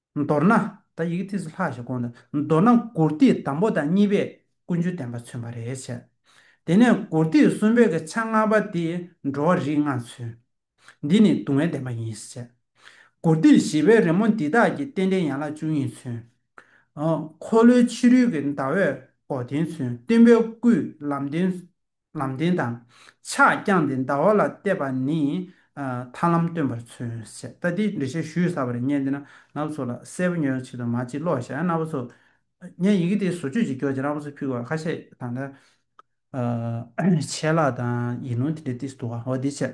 A: མདོར་ན། ད་ཡི་གེ་ཐིགས་སུ་ལྷག་ཞེས་དགོངས་ནས་མདོར་ན་མགུར་སྟེགས་དང་པོ་དང་གཉིས་པས་ཀུན་སྤྱོད་བསྟན་པ་མཚོན་པ་རེད་བྱས། དེ་ནས་མགུར་སྟེགས་གསུམ་པའི་གི་ཆ་ལྔ་པ་དེ་འགྲོ་བ་རིགས་ལྔ་མཚོན། འདི་ནི་སྡུག་བསྔལ་བདེན་པ་ཡིན་བྱས། མགུར་སྟེགས་བཞི་པའི་རི་མོ་འདི་དག་གི་རྟེན་འབྲེལ་ཡན་ལག་བཅུ་གཉིས་མཚོན། འཁོར་ལོའི་ཕྱི་རོལ་གྱི་ཟླ་བས་འགོག་བདེན་མཚོན་སྟོན་པའི་སྐུས་ལམ་བདེན། ལམ་བདེན་དང། ཕྱག་བརྐྱངས་ཏེ་ཟླ་བ་ལ་བལྟས་པ་ནི། ཐར་ལམ་སྟོན་པར་མཚོན་ཞེས་ལྟ་སྟེ་འགྲེལ་བཤད་ཞུས་ས་པ་རེ་རྙེད་འདི་ན་ནག་པོ་ཚོ་ལ་གསལ་པོ་ཉོན་ཆེད་དུ་མ་ཅིག་ཀློག་ཞེ་ན་ནག་པོ་ཚོ། ངས་ཡི་གེ་དེའི་བཟོ་བཅོས་ཅིག་རྒྱོགས་རྗེས་ནག་པོ་ཚོས་ཕུལ་བ་ཁ་ཤས་དང་འདྲ། ཆད་ལྷག་དང་ཡིག་ནོར་དེ་འདྲའི་སྟེང་སུ་འདུག་ག་འོ་དེའི་ཕྱིར།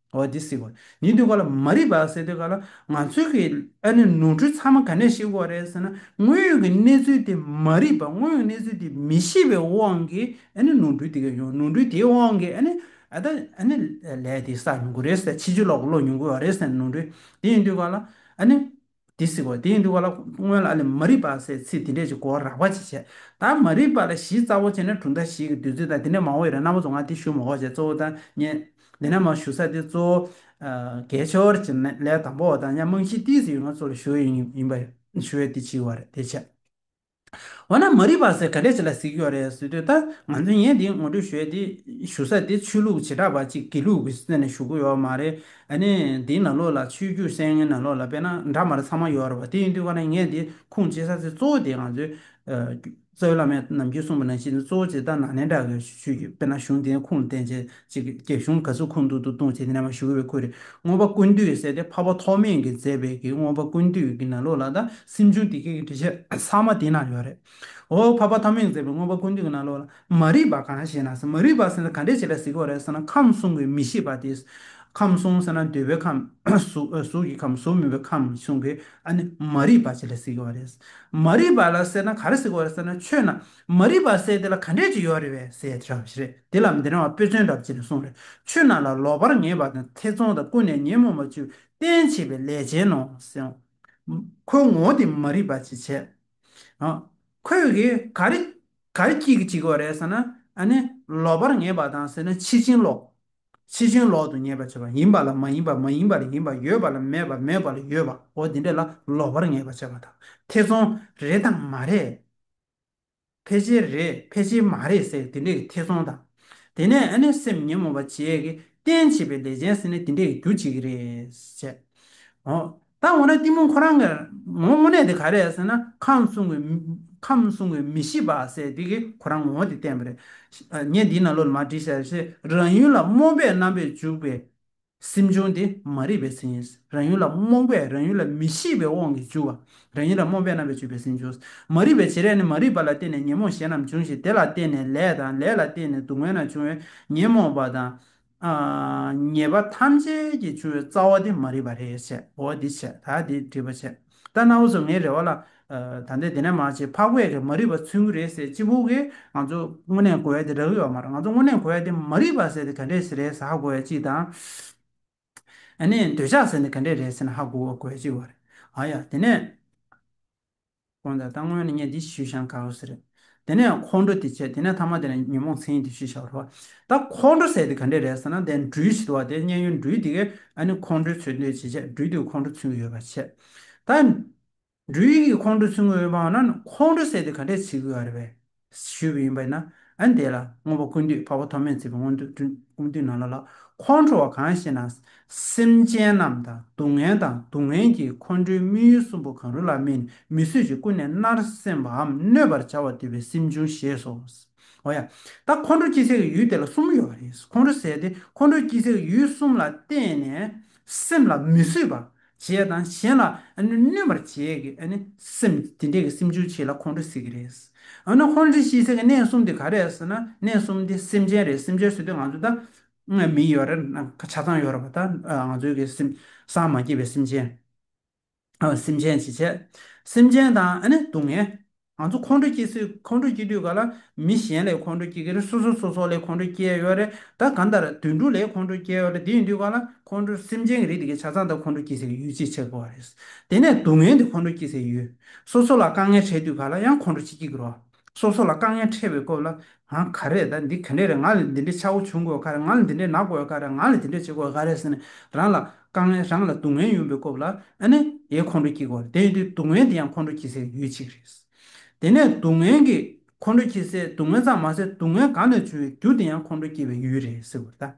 A: འོ་འདི་སྲིད་གོ། ཉིན་དེ་གོ་ལ་མ་རིག་པ་ཟེར་དེ་ག་ལ་ང་ཚོའི་གི་ཨ་ནི་ནོར་འཁྲུལ་ཚང་མ་ག་ནས་ཤེས་གོ་རེད་ཟེར་ན་དངོས་ཡོད་གི་གནས་ཚུལ་དེ་མ་རིག་པ་དངོས་ཡོད་གནས་ཚུལ་དེ་མི་ཤེས་པའི་དབང་གིས་ཨ་ནི་ནོར་འཁྲུལ་དེ་ག་ཡོང་ནོར་འཁྲུལ་དེའི་དབང་གིས་ཨ་ནི་ཨ་ད་ཨ་ནི་ལས་དེ་བསགས་མྱོང་གོ་རེད་ཟེར་ཕྱི་ཆོས་ལོག་གི་ཀློག་མྱོང་གོ་རེད་ཟེར་ན་ནོར་འཁྲུལ་དེ་ཡིན་དུས་ག་ལ་ཨ་ནི། འདི་གཟིགས་བར་དེ་ཡིན་འདུག་བ་ལ་སྔོན་ལ་ཨ་ལི་མ་རིག་པ་སའི་ཚིག་འདི་འདྲས་ཀྱི་སྐོར་རགས་པ་ཅིག་བྱས། ད་མ་རིག་པ་ལ་གཞི་རྩ་བོ་ཅན་ནི་གྲུབ་མཐའ་བཞིའི་བདུད་རྩི་དང་དེ་ནས་མ་འོངས་ཡོད་རེད་ན་མོ་ཚོ་ང་འདི་ཞུ་མ་གོ་བྱས་གཙོ་བོ་ད་ཉན། དེ་ནས་མ་ཞུ་ས་དེ་གཙོ་བོ། དགེ་ཆོས་ཀྱི་ལས་དང་པོ་བ་དང་ཡང་རྨང་གཞི་ཏིས་ཡོད་ང་གཙོ་ལ་ཞུ་ཡི་ཡིན་པ་ཞུ་ཡི་དེ་ཅིག་བ་རེད་དེ་བྱས། འོ་ན་མ་རིག་པ་ཟེར་ག་ལེ་ཆེ་ལ་གཟིགས་ཡོད་རེད་ཟེར་དུས་ད་ང་ཚོའི་ངས་འདི་ངོ་སྤྲོད་ཞུས་དེ་ཞུ་ས་དེ་ཆོས་ལུགས་བྱེ་བྲག་པ་གཅིག་དགེ་ལུགས་ཀྱི་སེམས་ནས་ཞུ་གི་ཡོད་མ་རེད་ནི་འདིའི་ནང་ལོགས་ལ་ཆོས་བརྒྱུད་གསན་ངན་ནང་ལོགས་ལ་དཔེ་ན་འདྲ་མ་རེད་ཚང་མ་ཡོད་རེད་བ་དེ་ཡིན་དུས་ཀ་ན་ངས་འདི་ཁུངས་སྐྱེལ་ས་དེ་གཙོ་བོ་དེ་ང་ཚོའི་རྩ་བའི་བླ་མས་ནམ་རྒྱུན་གསུངས་པ་ནང་བཞིན་དུ་གཙོ་བོ་ཆེ་ད་ནང་ནས་འདྲ་གི་ཞུས་ཡོད་དཔེ་ན་གཞུང་དེའི་ཁུངས་ལ་བརྟེན་ཆེད་གཅིག་གིས་རྒྱ་གཞུང་དགའ་བསུ་ཁུངས་གཏུག་ཏུ་གཏོང་ཆེད་རྣལ་མ་ཞུ་གི་བའི་ཁུལ་རེད་རྔོན་པ་ཀུན་འདུས་ཟེར་ཏེ་འཕགས་པ་ཐོགས་མེད་ཀྱིས་མཛད་པའི་གི་རྔོན་པ་ཀུན་འདུས་ཀྱི་ན་ལོ་ལ་དང་སེམས་བྱུང་དེ་སྐད་ཀྱི་འབྲི་བྱ་ཚང་མ་དེ་ན་ཡོད་རེད་འོ་འཕགས་པ་ཐོགས་མེད་ཀྱིས་མཛད་པའི་རྔོན་པ་ཀུན་འདུས་ཀྱི་ན་ལོ་ལ་མ་རིག་པ་གང་ཞེ་ན་ས་མ་རིག་པ་ཟེར་ན་ག་འདྲའི་བྱེད་ལ་གཟིགས་པ་རེད་ཟེར་ན་ཁམས་གསུམ་གྱི་མི་ཤེས་པ་དེ་ཁམས་གསུམ་ཟེར་ན་འདོད་པའི་ཁམས་གཟུགས་ཀྱི་ཁམས་གཟུགས་མིན་པའི་ཁམས་གསུམ་གྱི་ཨ་ནི་མ་རིག་པ་བྱེད་ལ་གཟིགས་པ་རེད་མ་རིག་པ་ལ་ཟེར་ན་ག་རེ་གཟིགས་པ་རེད་ཟེར་ན་ཆོས་རྣམས་མ་རིག་པ་སེལ་དེ་ལ་ག་འདྲས་ཅིག་ཡོད་རེད་བས་སེལ་དྲགས་བཞི་རེད་དེ་ལ་འདི་འདྲ་བ་དཔེ་མཚོན་གྲབས་བྱེད་ནས་གསུངས་རེད་ཆོས་རྣམས་ལ་ལོག་པར་ངེས་པ་དང་ཐེ་ཚོམ་དང་ཀུན་ནས་ཉོན་མོངས་པ་བཅུ་བསྟན་བྱེད་པའི་ལས་ཅན་ནོ། ཁོའི་ངོ་བོ་དེ་མ་རིག་པ་ཅི་བྱེད། ཁོས་གི་ག་རེ་ག་རེ་སྐྱིད་ཀྱི་བྱེད་ཀྱི་རེད་ཟེར་ན་ཨ་ནི་ལོག་པར་ངེས་པ་དང་ཟེར་ན་ཕྱི་བྱིན་ལོག་ཕྱི་བྱིན་ལོག་ཏུ་ངེས་པ་བྱེད་པ་ཡིན་པ་ལ་མ་ཡིན་པ་མ་ཡིན་པ་ལ་ཡིན་པ་ཡོད་པ་ལ་མེད་པ་མེད་པ་ལ་ཡོད་པའོ་འདི་འདྲ་ལ་ལོག་པར་ངེས་པ་བྱེད་པ་དང་ཐེ་ཚོམ་རེད་དང་མ་རེད། ཕལ་ཆེར་རེད་ཕལ་ཆེར་མ་རེད་ཟེར་གི་འདི་འདྲས་ཀྱི་ཐེ་ཚོམ་དང། དེ་ནས་ཨ་ནེ་སེམས་ཉིན་མོ་བ་བྱས་ཀྱི་རྟེན་བྱེད་པའི་ལས་ཅན་ཟེར་ནས་འདི་འདྲས་ཀྱི་རྒྱུ་བྱེད་ཀྱི་རེད་བཤད། ཨོ། ད་འོ་ན་གཏི་མུག་ཁོ་རང་གི་ངོ་བོ་དངོས་གནས་དེ་ག་རེད་ཟེར་ན་ཁམས་གསུམ་གྱི། ཁམས་གསུམ་གྱི་མི་ཤེས་པ་ཟེར་དེ་གི་ཁོ་རང་ངོ་བོ་དེ་བསྟན་པ་རེད། ངས་འདིའི་ནང་ལོ་ལ་མ་བྲིས་ཤག་རེད། རང་ཡུལ་ལ་རྨོངས་པའི་རྣམ་པས་འཇུག་པའི། སེམས་བྱུང་དེ་མ་རིག་པའི་སེམས་ཡིན། རང་ཡུལ་ལ་རྨོངས་པས་རང་ཡུལ་ལ་མི་ཤེས་པའི་དབང་གིས་འཇུག་པ། རང་ཡུལ་ལ་རྨོངས་པས་རྣམ་པས་བཅུ་པའི་སེམས་འབྱུང། མ་རིག་པའི་བྱེད་ལས་ནི་མ་རིག་པ་ལ་བརྟེན་ནས་ཉོན་མོངས་གཞན་རྣམས་འབྱུང་ཞིང་དེ་ལ་བརྟེན་ནས་ལས་དང་ལས་ལ་བརྟེན་ནས་སྡུག་བསྔལ་རྣམས་འབྱུང་བས་ཉོན་མོངས་པ་དང། ཉེས་པ་ཐམས་ཅད་ཀྱིས་བྱུང་བའི་རྩ་བ་དེ་མ་རིག་པ་རེད། འོ་འདི་བྱས་ད་འདི་འདྲིས་པ་བྱས། ལྟ་ན་འུ་ཚོ་ངའི་རེ་བ་ལ། ད་ལྟའི་དེ་ནས་མ་བྱེད་ཕག་པས་རེད་མ་རིག་པ་ཚུལ་མགུ་རེད་ཟེར་གཅིག་པུ་གིས། ང་ཚོ་དངོས་གནས་གོ་བས་དེ་རག་ཡོད་བ་མ་རེད་ང་ཚོ་དངོས་གནས་གོ་བས་དེ་མ་རིག་པ་ཟེར་དེ་ག་འདྲས་ཟེར་རེད་ཟེར་ཧ་གོ་བས་གཅིག་དང། ཨ་ནི་འདོད་ཆགས་ཟེར་དེ་ག་འདྲས་རེད་ཟེར་ན་ཧ་གོ་བས་གཅིག་བ་རེད། ཨ་ཡ་དེ་ནས། ཁོང་ད་ལྟ་དངོས་ནས་ངས་འདི་ཞུས་ཤང་ག་འུ་ཟེར་རེད། དེ་ནས་ཁོང་ཁྲོ་དེ་བྱས་དེ་ནས་ཐ་མ་དེ་ནས་ཉོན་མོངས་མཚན་ཡིན་དེ་ཞེས་བྱ་བ་ལྷོ། ད་ཁོང་ཁྲོ་ཟད་དེ་ག་འདྲས་རེད་ཟེར་ན་དེ་འགྲུལ་བྱེད་དུ་བ་དེ་མཉན་ཡོད་འགྲུལ་དེ་གས་ཨ་ནི་ཁོང་ཁྲོའི་ཚུལ་འདོད་ཅེས་བྱས་འགྲུལ་དེ་ཁོང་ཁྲོ་ཚུལ་དངོས་ཡོད་པར་བྱས། ད་འགྲུལ་གྱིས་ཁོང་ཁྲོའི་ཚུལ་དངོས་ཡོད་སྨྲ་བ་ན་ཁོང་ཁྲོ་ཟད་དེ་ག་འདྲས་བྱེད་དགོས་ཨ་རེད་བས། ཞུས་པ་ཡིན་པས་ན་ཨ་ནི་དེ་ལ་དངོས་པོ་ཀུན་བཏུས་འཕགས་པ་ཐོགས་མེད་ཚིག་པའི་དངོས་བསྟུན་ཀུན་བཏུས་ནང་ལ་ལ་ཁོང་ཁྲོ་བ་གང་ཞེ་ན་སེམས་ཅན་རྣམས་དང་སྡུག་བསྔལ་དང་སྡུག་བསྔལ་གྱི་ཁོང་ཁྲོའི་དམིགས་ཡུལ་གསུམ་པོ་གང་རུང་ལ་སྨིན་མི་བཟོད་ཅིང་ཀུན་ནས་མནར་སེམས་པའམ་གནོད་པར་བྱ་བ་དུལ་བའི་སེམས་འབྱུང་ཞེས་སོ། འོ་ཡ། ད་ཁོང་ཁྲོ་སྐྱེ་སའི་གི་ཡུལ་དེ་ལ་གསུམ་ཡོད་པ་རེད། ཁོང་ཁྲོ་ཟད་དེ་ཁོང་ཁྲོ་སྐྱེ་སའི་གི་ཡུལ་གསུམ་ལ་བརྟེན་ནས་སེམས་ལ་མི་བཟོད་པར་བྱེད་དང་གཞན་ལ་གནོད་པར་བྱེད་ཀྱི་སེམས་དེ་འདྲའི་གི་སེམས་འབྱུང་བྱེད་ལ་ཁོང་ཁྲོ་ཟེར་གྱི་རེད། འོ་ན་ཁོང་ཁྲོ་སྐྱེ་སའི་གི་གནས་གསུམ་དེ་ག་རེད་ཟེར་ན་གནས་གསུམ་དེ་སེམས་ཅན་རེད་སེམས་ཅན་ཟེར་དུས་ང་ཚོ་ད་ངའི་མིང་ཡོད་རེད་ན་ཆ་ཚང་ཡོད་རེད་པ་ད་ང་ཚོའི་གི་སེམས་སངས་མ་སྐྱེས་པའི་སེམས་ཅན། སེམས་ཅན་ཇི་བྱེད། སེམས་ཅན་དང་ཨ་ནི་སྡུག་བསྔལ། ང་ཚོ་ཁོང་ཁྲོ་སྐྱེ་སྲིད་ཁོང་ཁྲོ་སྐྱེ་དུས་ག་ལ་མི་གཞན་ལས་ཁོང་ཁྲོ་སྐྱེ་གི་རེད་སོ་སོ་སོ་སོ་ལས་ཁོང་ཁྲོ་སྐྱེ་ཡོད་རེད་ད་གང་ལྟར་དུད་འགྲོ་ལས་ཁོང་ཁྲོ་སྐྱེ་ཡོད་རེད་དེ་ཡིན་དུས་ག་ལ་ཁོང་ཁྲོ་སེམས་ཅན་གྱི་རིགས་དེ་གའི་ཆ་ཚང་དང་ཁོང་ཁྲོ་སྐྱེ་སྲིད་ཀྱི་ཡུལ་ཅི་ཆགས་པ་རེད། དེ་ནས་སྡུག་བསྔལ་དེ་ཁོང་ཁྲོ་སྐྱེ་སྲིད་ཀྱི་ཡུལ། སོ་སོ་ལ་དཀའ་ངལ་འཕྲད་དུས་ག་ལ་ཡང་ཁོང་ཁྲོ་ཅི་སྐྱེ་གི་རོགས། སོ་སོ་ལ་དཀའ་ངལ་འཕྲད་པའི་སྐོར་ལ། ང་ག་རེད་ད་འདི་ག་འདྲས་རེད་ང་ལ་འདི་འདྲའི་ཆག་སྒོ་བྱུང་དགོས་ག་རེད་ང་ལ་འདི་འདྲས་ན་དགོས་ག་རེད་ང་ལ་དེ་འདྲས་བྱེད་དགོས་ག་རེད་ཟེར་ནས་རང་ལ་དཀའ་ངལ་རང་ལ་སྡུག་བསྔལ་ཡོང་པའི་སྐོར་ལ་ཨ་ནི་ཡའི་ཁོང་ཁྲོ་སྐྱེ་དགོས་རེད་དེ་ཡིན་དུས་སྡུག་བསྔལ་དེ་ཡང་ཁོང་ཁྲོ་སྐྱེ་སའི་ཡུལ་གཅིག་རེད། དེ་ནས་སྡུག་བསྔལ་གྱི་ཁོང་ཁྲོ་སྐྱེ་སའི་སྡུག་བསྔལ་ཙམ་མ་ཟད་སྡུག་བསྔལ་གང་ནས་བྱུང་བའི་རྒྱུ་དེ་ཡང་ཁོང་ཁྲོ་སྐྱེ་བའི་ཡུལ་རེད་ཟེར་དགོས་རེད་ད།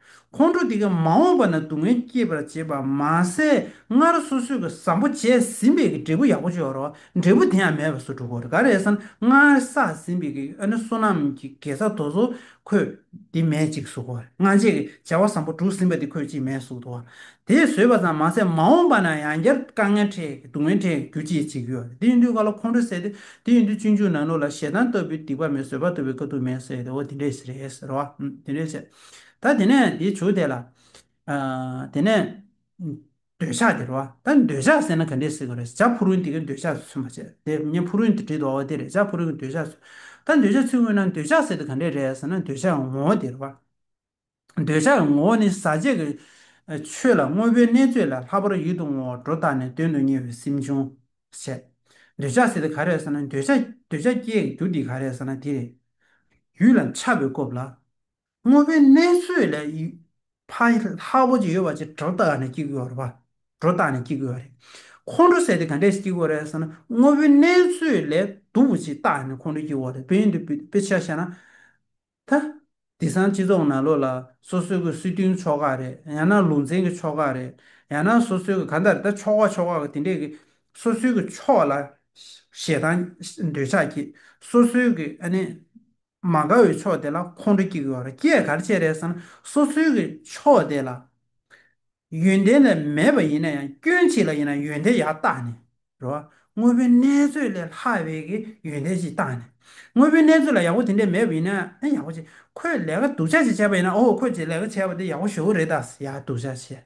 A: ཁོང་ཁྲོ་འདི་ག་མ་འོངས་པ་ན་སྡུག་བསྔལ་སྐྱེད་པར་བྱེད་པ་མ་ཟད་སྔར་སོ་སོས་གི་བཟང་པོ་བྱས་ཟིན་པས་གི་འབྲས་བུ་ཡག་པོ་འབྱོར་རོ། འབྲས་བུ་དེ་ཡང་མེད་པར་སུ་འགྲོ་གོ་རེ་ག་རེ་ས་ན་སྔར་བསགས་ཟིན་པས་གི་ཨ་ནི་བསོད་ནམས་ཀྱི་དགེ་རྩ་དོ་བཟོ་ཁོས་དེ་མེད་ཅིག་གསུག་གོ། སྔ་རྗེས་ཀི་བྱ་བ་བཟང་པོ་བསྒྲུབས་ཟིན་པས་དེ་ཁོས་ཅིས་མེད་གསུག་དོ། དེས་བཟོད་པ་ཙམ་མ་ཟད་མ་འོངས་པ་ན་ཡང་བསྐྱར་དཀའ་ངལ་འཕྲད་གི་སྡུག་བསྔལ་འཕྲད་གི་རྒྱུ་ཅིས་ཅིག་གི་ཡོད། དེ་ཡིན་དུས་ག་ལ་ཁོང་ཁྲོ་ཟད་དེ། དེ་ཡིན་དུས་སྤྱོད་འཇུག་ནང་ལུགས་ལ་ཞེ་སྡང་ལྟ་བུའི་སྡིག་པ་མེད་བཟོད་པ་ལྟ་བུའི་དཀའ་སྡུག་མེད་ཟེར་ཏེ་འོ་དེ་འདྲས་ཟེར་རེད་ཟེར་རོ། དེ་འདྲས་བྱས། ད་དེ་ནས་དེ་བྱུགས་དེ་ལ། དེ་ནས། འདོད་ཆགས་དེ་རོ། ད་འདོད་ཆགས་ཟེར་ན་ག་འདྲས་ཟེར་དགོས་རེད། བྱ་ཕུ་རུན་དེ་གའི་འདོད་ཆགས་སུ་མ་བྱས། དེ་ཉན་ཕུ་རུན་དེ་བྲིས་འདུག་བ་དེ་རེད། བྱ་ཕུ་རུན་གྱི་འདོད་ཆགས་སུ། ད་འདོད་ཆགས་ཚུལ་དངོས་ན་འདོད་ཆགས་ཟེར་དེ་ག་འདྲས་རེད་ཟེར་ན་འདོད་ཆགས་ཀྱི་ངོ་བོ་དེ་རེད། འདོད་ཆགས་ཀྱི་ངོ་བོ་ནི་ཟག་བཅས་ཀྱི། ཆོས་ལ་དངོས་པོའི་གནས་ཚོད་ལས་ལྷག་པར་ཡིད་དུ་འོང་བ་སྒྲོ་བཏགས་ནས་དོན་དུ་གཉེར་བའི་སེམས་བྱུང། བྱས། འདོད་ཆགས་ཟེར་དེ་ག་རེད་ཟེར་ན་འདོད་ཆགས། འདོད་ཆགས་སྐྱེ་ཡི་རྒྱུ་དེ་ག་རེད་ཟེར་ན་དེ་རེད། ཡུལ་ལ་འཆར་བའི་སྐོབས་ལ། དངོས་པོའི་གནས་ཚོད་ལས། ཕ་ལྷ་བོ་ཅི་ཡོད་བ་ཅི་གྲོ་བཏགས་ནས་སྐྱིགས་གོ་རེད་པ། གྲོ་བཏགས་ནས་སྐྱིགས་གོ་རེད། ཁོང་ཁྲོ་བསད་དེ་ག་འདྲས་སྐྱིགས་གོ་རེད་ཟེར་ན། དངོས་པོའི་གནས་ཚོད་ལས་དུག་བོ་ཅི་བཏགས་ནས་ཁོང་ཁྲོ་སྐྱིགས་གོ་རེད་བོད་ཡིག་འདི་དཔེ་ཆ་བཤད་ན། ད། དེ་སང་སྤྱི་ཚོགས་ན་ལོ་ལ་སོ་སོའི་གི་སྲིད་དོན་ཕྱོགས་ཁག་རེད་ཡང་ན་ལུང་ཚན་གི་ཕྱོགས་ཁག་རེད་ཡང་ན་སོ་སོའི་གི་ག་འདྲ་རེད་ད་ཕྱོགས་ཁག་ཕྱོགས་ཁག་གི་དེ་འདྲས་གི་སོ་སོའི་གི་ཕྱོགས་ལ། ཞེ་སྡང་འདོད་ཆགས་སྐྱེས་སོ་སོའི་གི་ཨ་ནི། མ་དགའ་བའི་ཕྱོགས་དེ་ལ་ཁོང་ཁྲོ་སྐྱེ་དགོས་བ་རེད་སྐྱེས་གར་བྱེད་རེད་བསམ་ན་སོ་སོའི་གི་ཕྱོགས་དེ་ལ་ཡོན་ཏན་ལས་མེད་པ་ཡིན་ན་ཡང་སྐྱོན་ཅིག་ལ་ཡིན་ན་ཡོན་ཏན་ཡག་བཏགས་ནས་རེད་བ་དངོས་པོའི་གནས་ཚོད་ལས་ལྷག་བའི་གི་ཡོན་ཏན་ཅིག་བཏགས་ནས་དངོས་པོའི་གནས་ཚོད་ལ་ཡག་པོ་དེ་འདྲས་མེད་པ་ཡིན་ན་ཡང་ཡག་པོ་བྱེད་ཁོས་ལས་ཀ་སྡུག་ཅག་ཅིག་བྱས་པ་ཡིན་ན་འོ་ཁོས་ལས་ཀ་བྱས་པ་དེ་ཡག་པོ་ཞོ་རེད་ད་ཡ་སྡུག་ཅག་བྱས།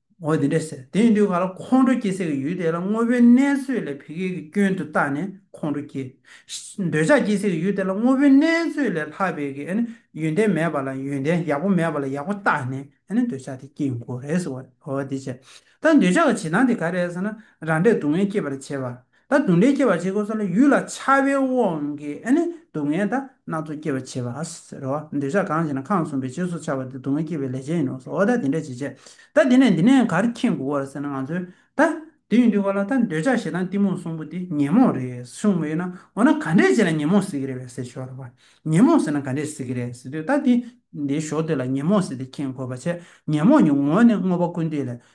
A: འོ་དེ་འདྲས་ཟེར། དེ་ཡིན་དུས་ག་ལ་ཁོང་ཁྲོ་སྐྱེ་སའི་གི་ཡུལ་དེ་ལ་དངོས་པོའི་གནས་ཚོད་ལས་བི་གའི་གི་སྐྱོན་དུ་བཏགས་ནས་ཁོང་ཁྲོ་སྐྱེ། འདོད་ཆགས་སྐྱེ་སའི་གི་ཡུལ་དེ་ལ་དངོས་པོའི་གནས་ཚོད་ལས་ལྷག་པའི་གི་ཡོན་ཏན་མེད་པ་ལ་ཡོན་ཏན་ཡག་པོ་མེད་པ་ལ་ཡག་པོ་བཏགས་ནས་འདོད་ཆགས་དེ་སྐྱེ་ཡིན་གོ་རེ་ཟེར་བ། འོ་དེ་བྱས། ད་འདོད་ཆགས་ཀྱི་བྱེད་སྟངས་དེ་ག་རེད་ཟེར་ན། རང་འབྲས་སྡུག་བསྔལ་སྐྱེད་པར་བྱེད་པ། ད་སྡུག་བསྔལ་སྐྱེད་པར་བྱེད་དགོས་ས་ལ་ཡུལ་ལ་འཆར་བའི་དབང་གིས་སྡུག་བསྔལ་དང་སྣ་ཚོགས་སྐྱེད་པར་བྱེད་པ། ཟེར་རོ། འདོད་ཆགས་གང་ཞིག་ན་ཁམས་གསུམ་པའི་རྗེས་སུ་འཆར་བ་དེ་སྡུག་བསྔལ་སྐྱེད་པའི་ལས་ཅན་ཡིན་ནོ། ཟོ། ད་དེ་འདྲ་བྱེད་བྱེད། ད་དེ་ནས་འདི་ནས་གར་མཁྱེན་དགོས་བར་ཟེར་ན་ང་ཚོས་ད། དེ་ཡིན་དུས་ག་ལ་ད་འདོད་ཆགས་ཞེ་སྡང་གཏི་མུག་གསུམ་པོ་དེ་ཉོན་མོངས་རེད་གསུངས་མོད་ཡོད་ན་འོ་ན་ག་འདྲས་བྱས་ན་ཉོན་མོངས་སེལ་གྱི་རེད་བས་ཟེར་ཞོར་རོ། ཉོན་མོངས་སེལ་ན་ག་འདྲས་སེལ་གྱི་རེད་ཟེར་དུས་ད་དེ་འདི་ཞོགས་དུས་ལ་ཉོན་མོངས་སེལ་ཏེ་མཁྱེན་དགོས་པ་བྱས་ཉོན་མོངས་ཀྱི་ངོ་བོ་ནི་དངོས་པོ་ཀུན་བཏུས་ལས་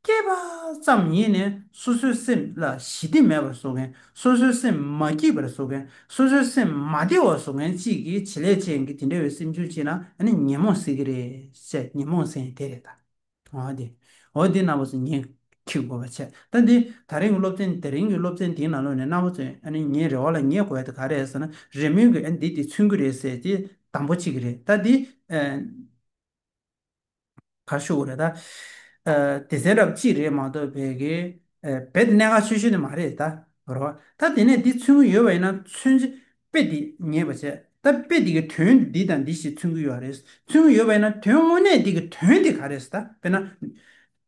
A: སྐྱེས་པ་ཙམ་ཉིད་ནི་སོ་སོའི་སེམས་ལ་ཞི་བདེ་མེད་པར་བཟོ་མཁན་སོ་སོའི་སེམས་མ་སྐྱིད་པར་བཟོ་མཁན་སོ་སོའི་སེམས་མ་བདེ་བར་བཟོ་མཁན་གཅིག་གིས་བྱེད་ལས་ཅན་གྱིས་དེ་འདྲ་བའི་སེམས་བྱུང་བྱེད་ན་ད་ནི་ཉོན་མོངས་སེལ་གྱི་རེད་བཤད་ཉོན་མོངས་སེལ་ཡང་དེ་རེད་ད། འོ་དེ། འོ་དེ་རྣམ་པ་ཚོ་ངས་ཁྱི་དགོས་པ་བྱས་ད་འདི་ད་རིང་གི་སློབ་ཚན་དེ་རིང་གི་སློབ་ཚན་དེའི་ནང་ལོག་ནས་རྣམ་པ་ཚོས་ཨ་ནི་ངའི་རེ་བ་ལ་ངས་གོ་ཡ་དེ་ག་རེད་ཟེར་ན་རེ་སྨོན་གྱིས་ཨ་ནི་འདི་དེ་མཚོན་གྱི་རེད་ཟེར་དེ་དང་པོ་གཅིག་རེད་ད་འདི། གར་ཞུ་བ་རེད་ད། སྡེ་ཚན་རབ་གཅིག་རེད་མ་གཏོགས་བལ་གྱི་བལ་གནད་འགག་ཆེ་ཤོས་ནི་མ་རེད་ད། རེད་བ། ད་དེ་ནས་འདི་མཚོན་གྱི་ཡོད་བ་ཡིན་ན་མཚོན་ཅི། དཔེ་འདི་ངེས་པ་བྱས། ད་དཔེ་འདི་གི་དོན་འདི་དང་འདི་ཞེས་མཚོན་གྱི་ཡོད་རེད། མཚོན་གྱི་ཡོད་བ་ཡིན་ན་དོན་དངོས་གནས་འདི་གི་དོན་དེ་ག་རེད་ད། དཔེར་ན།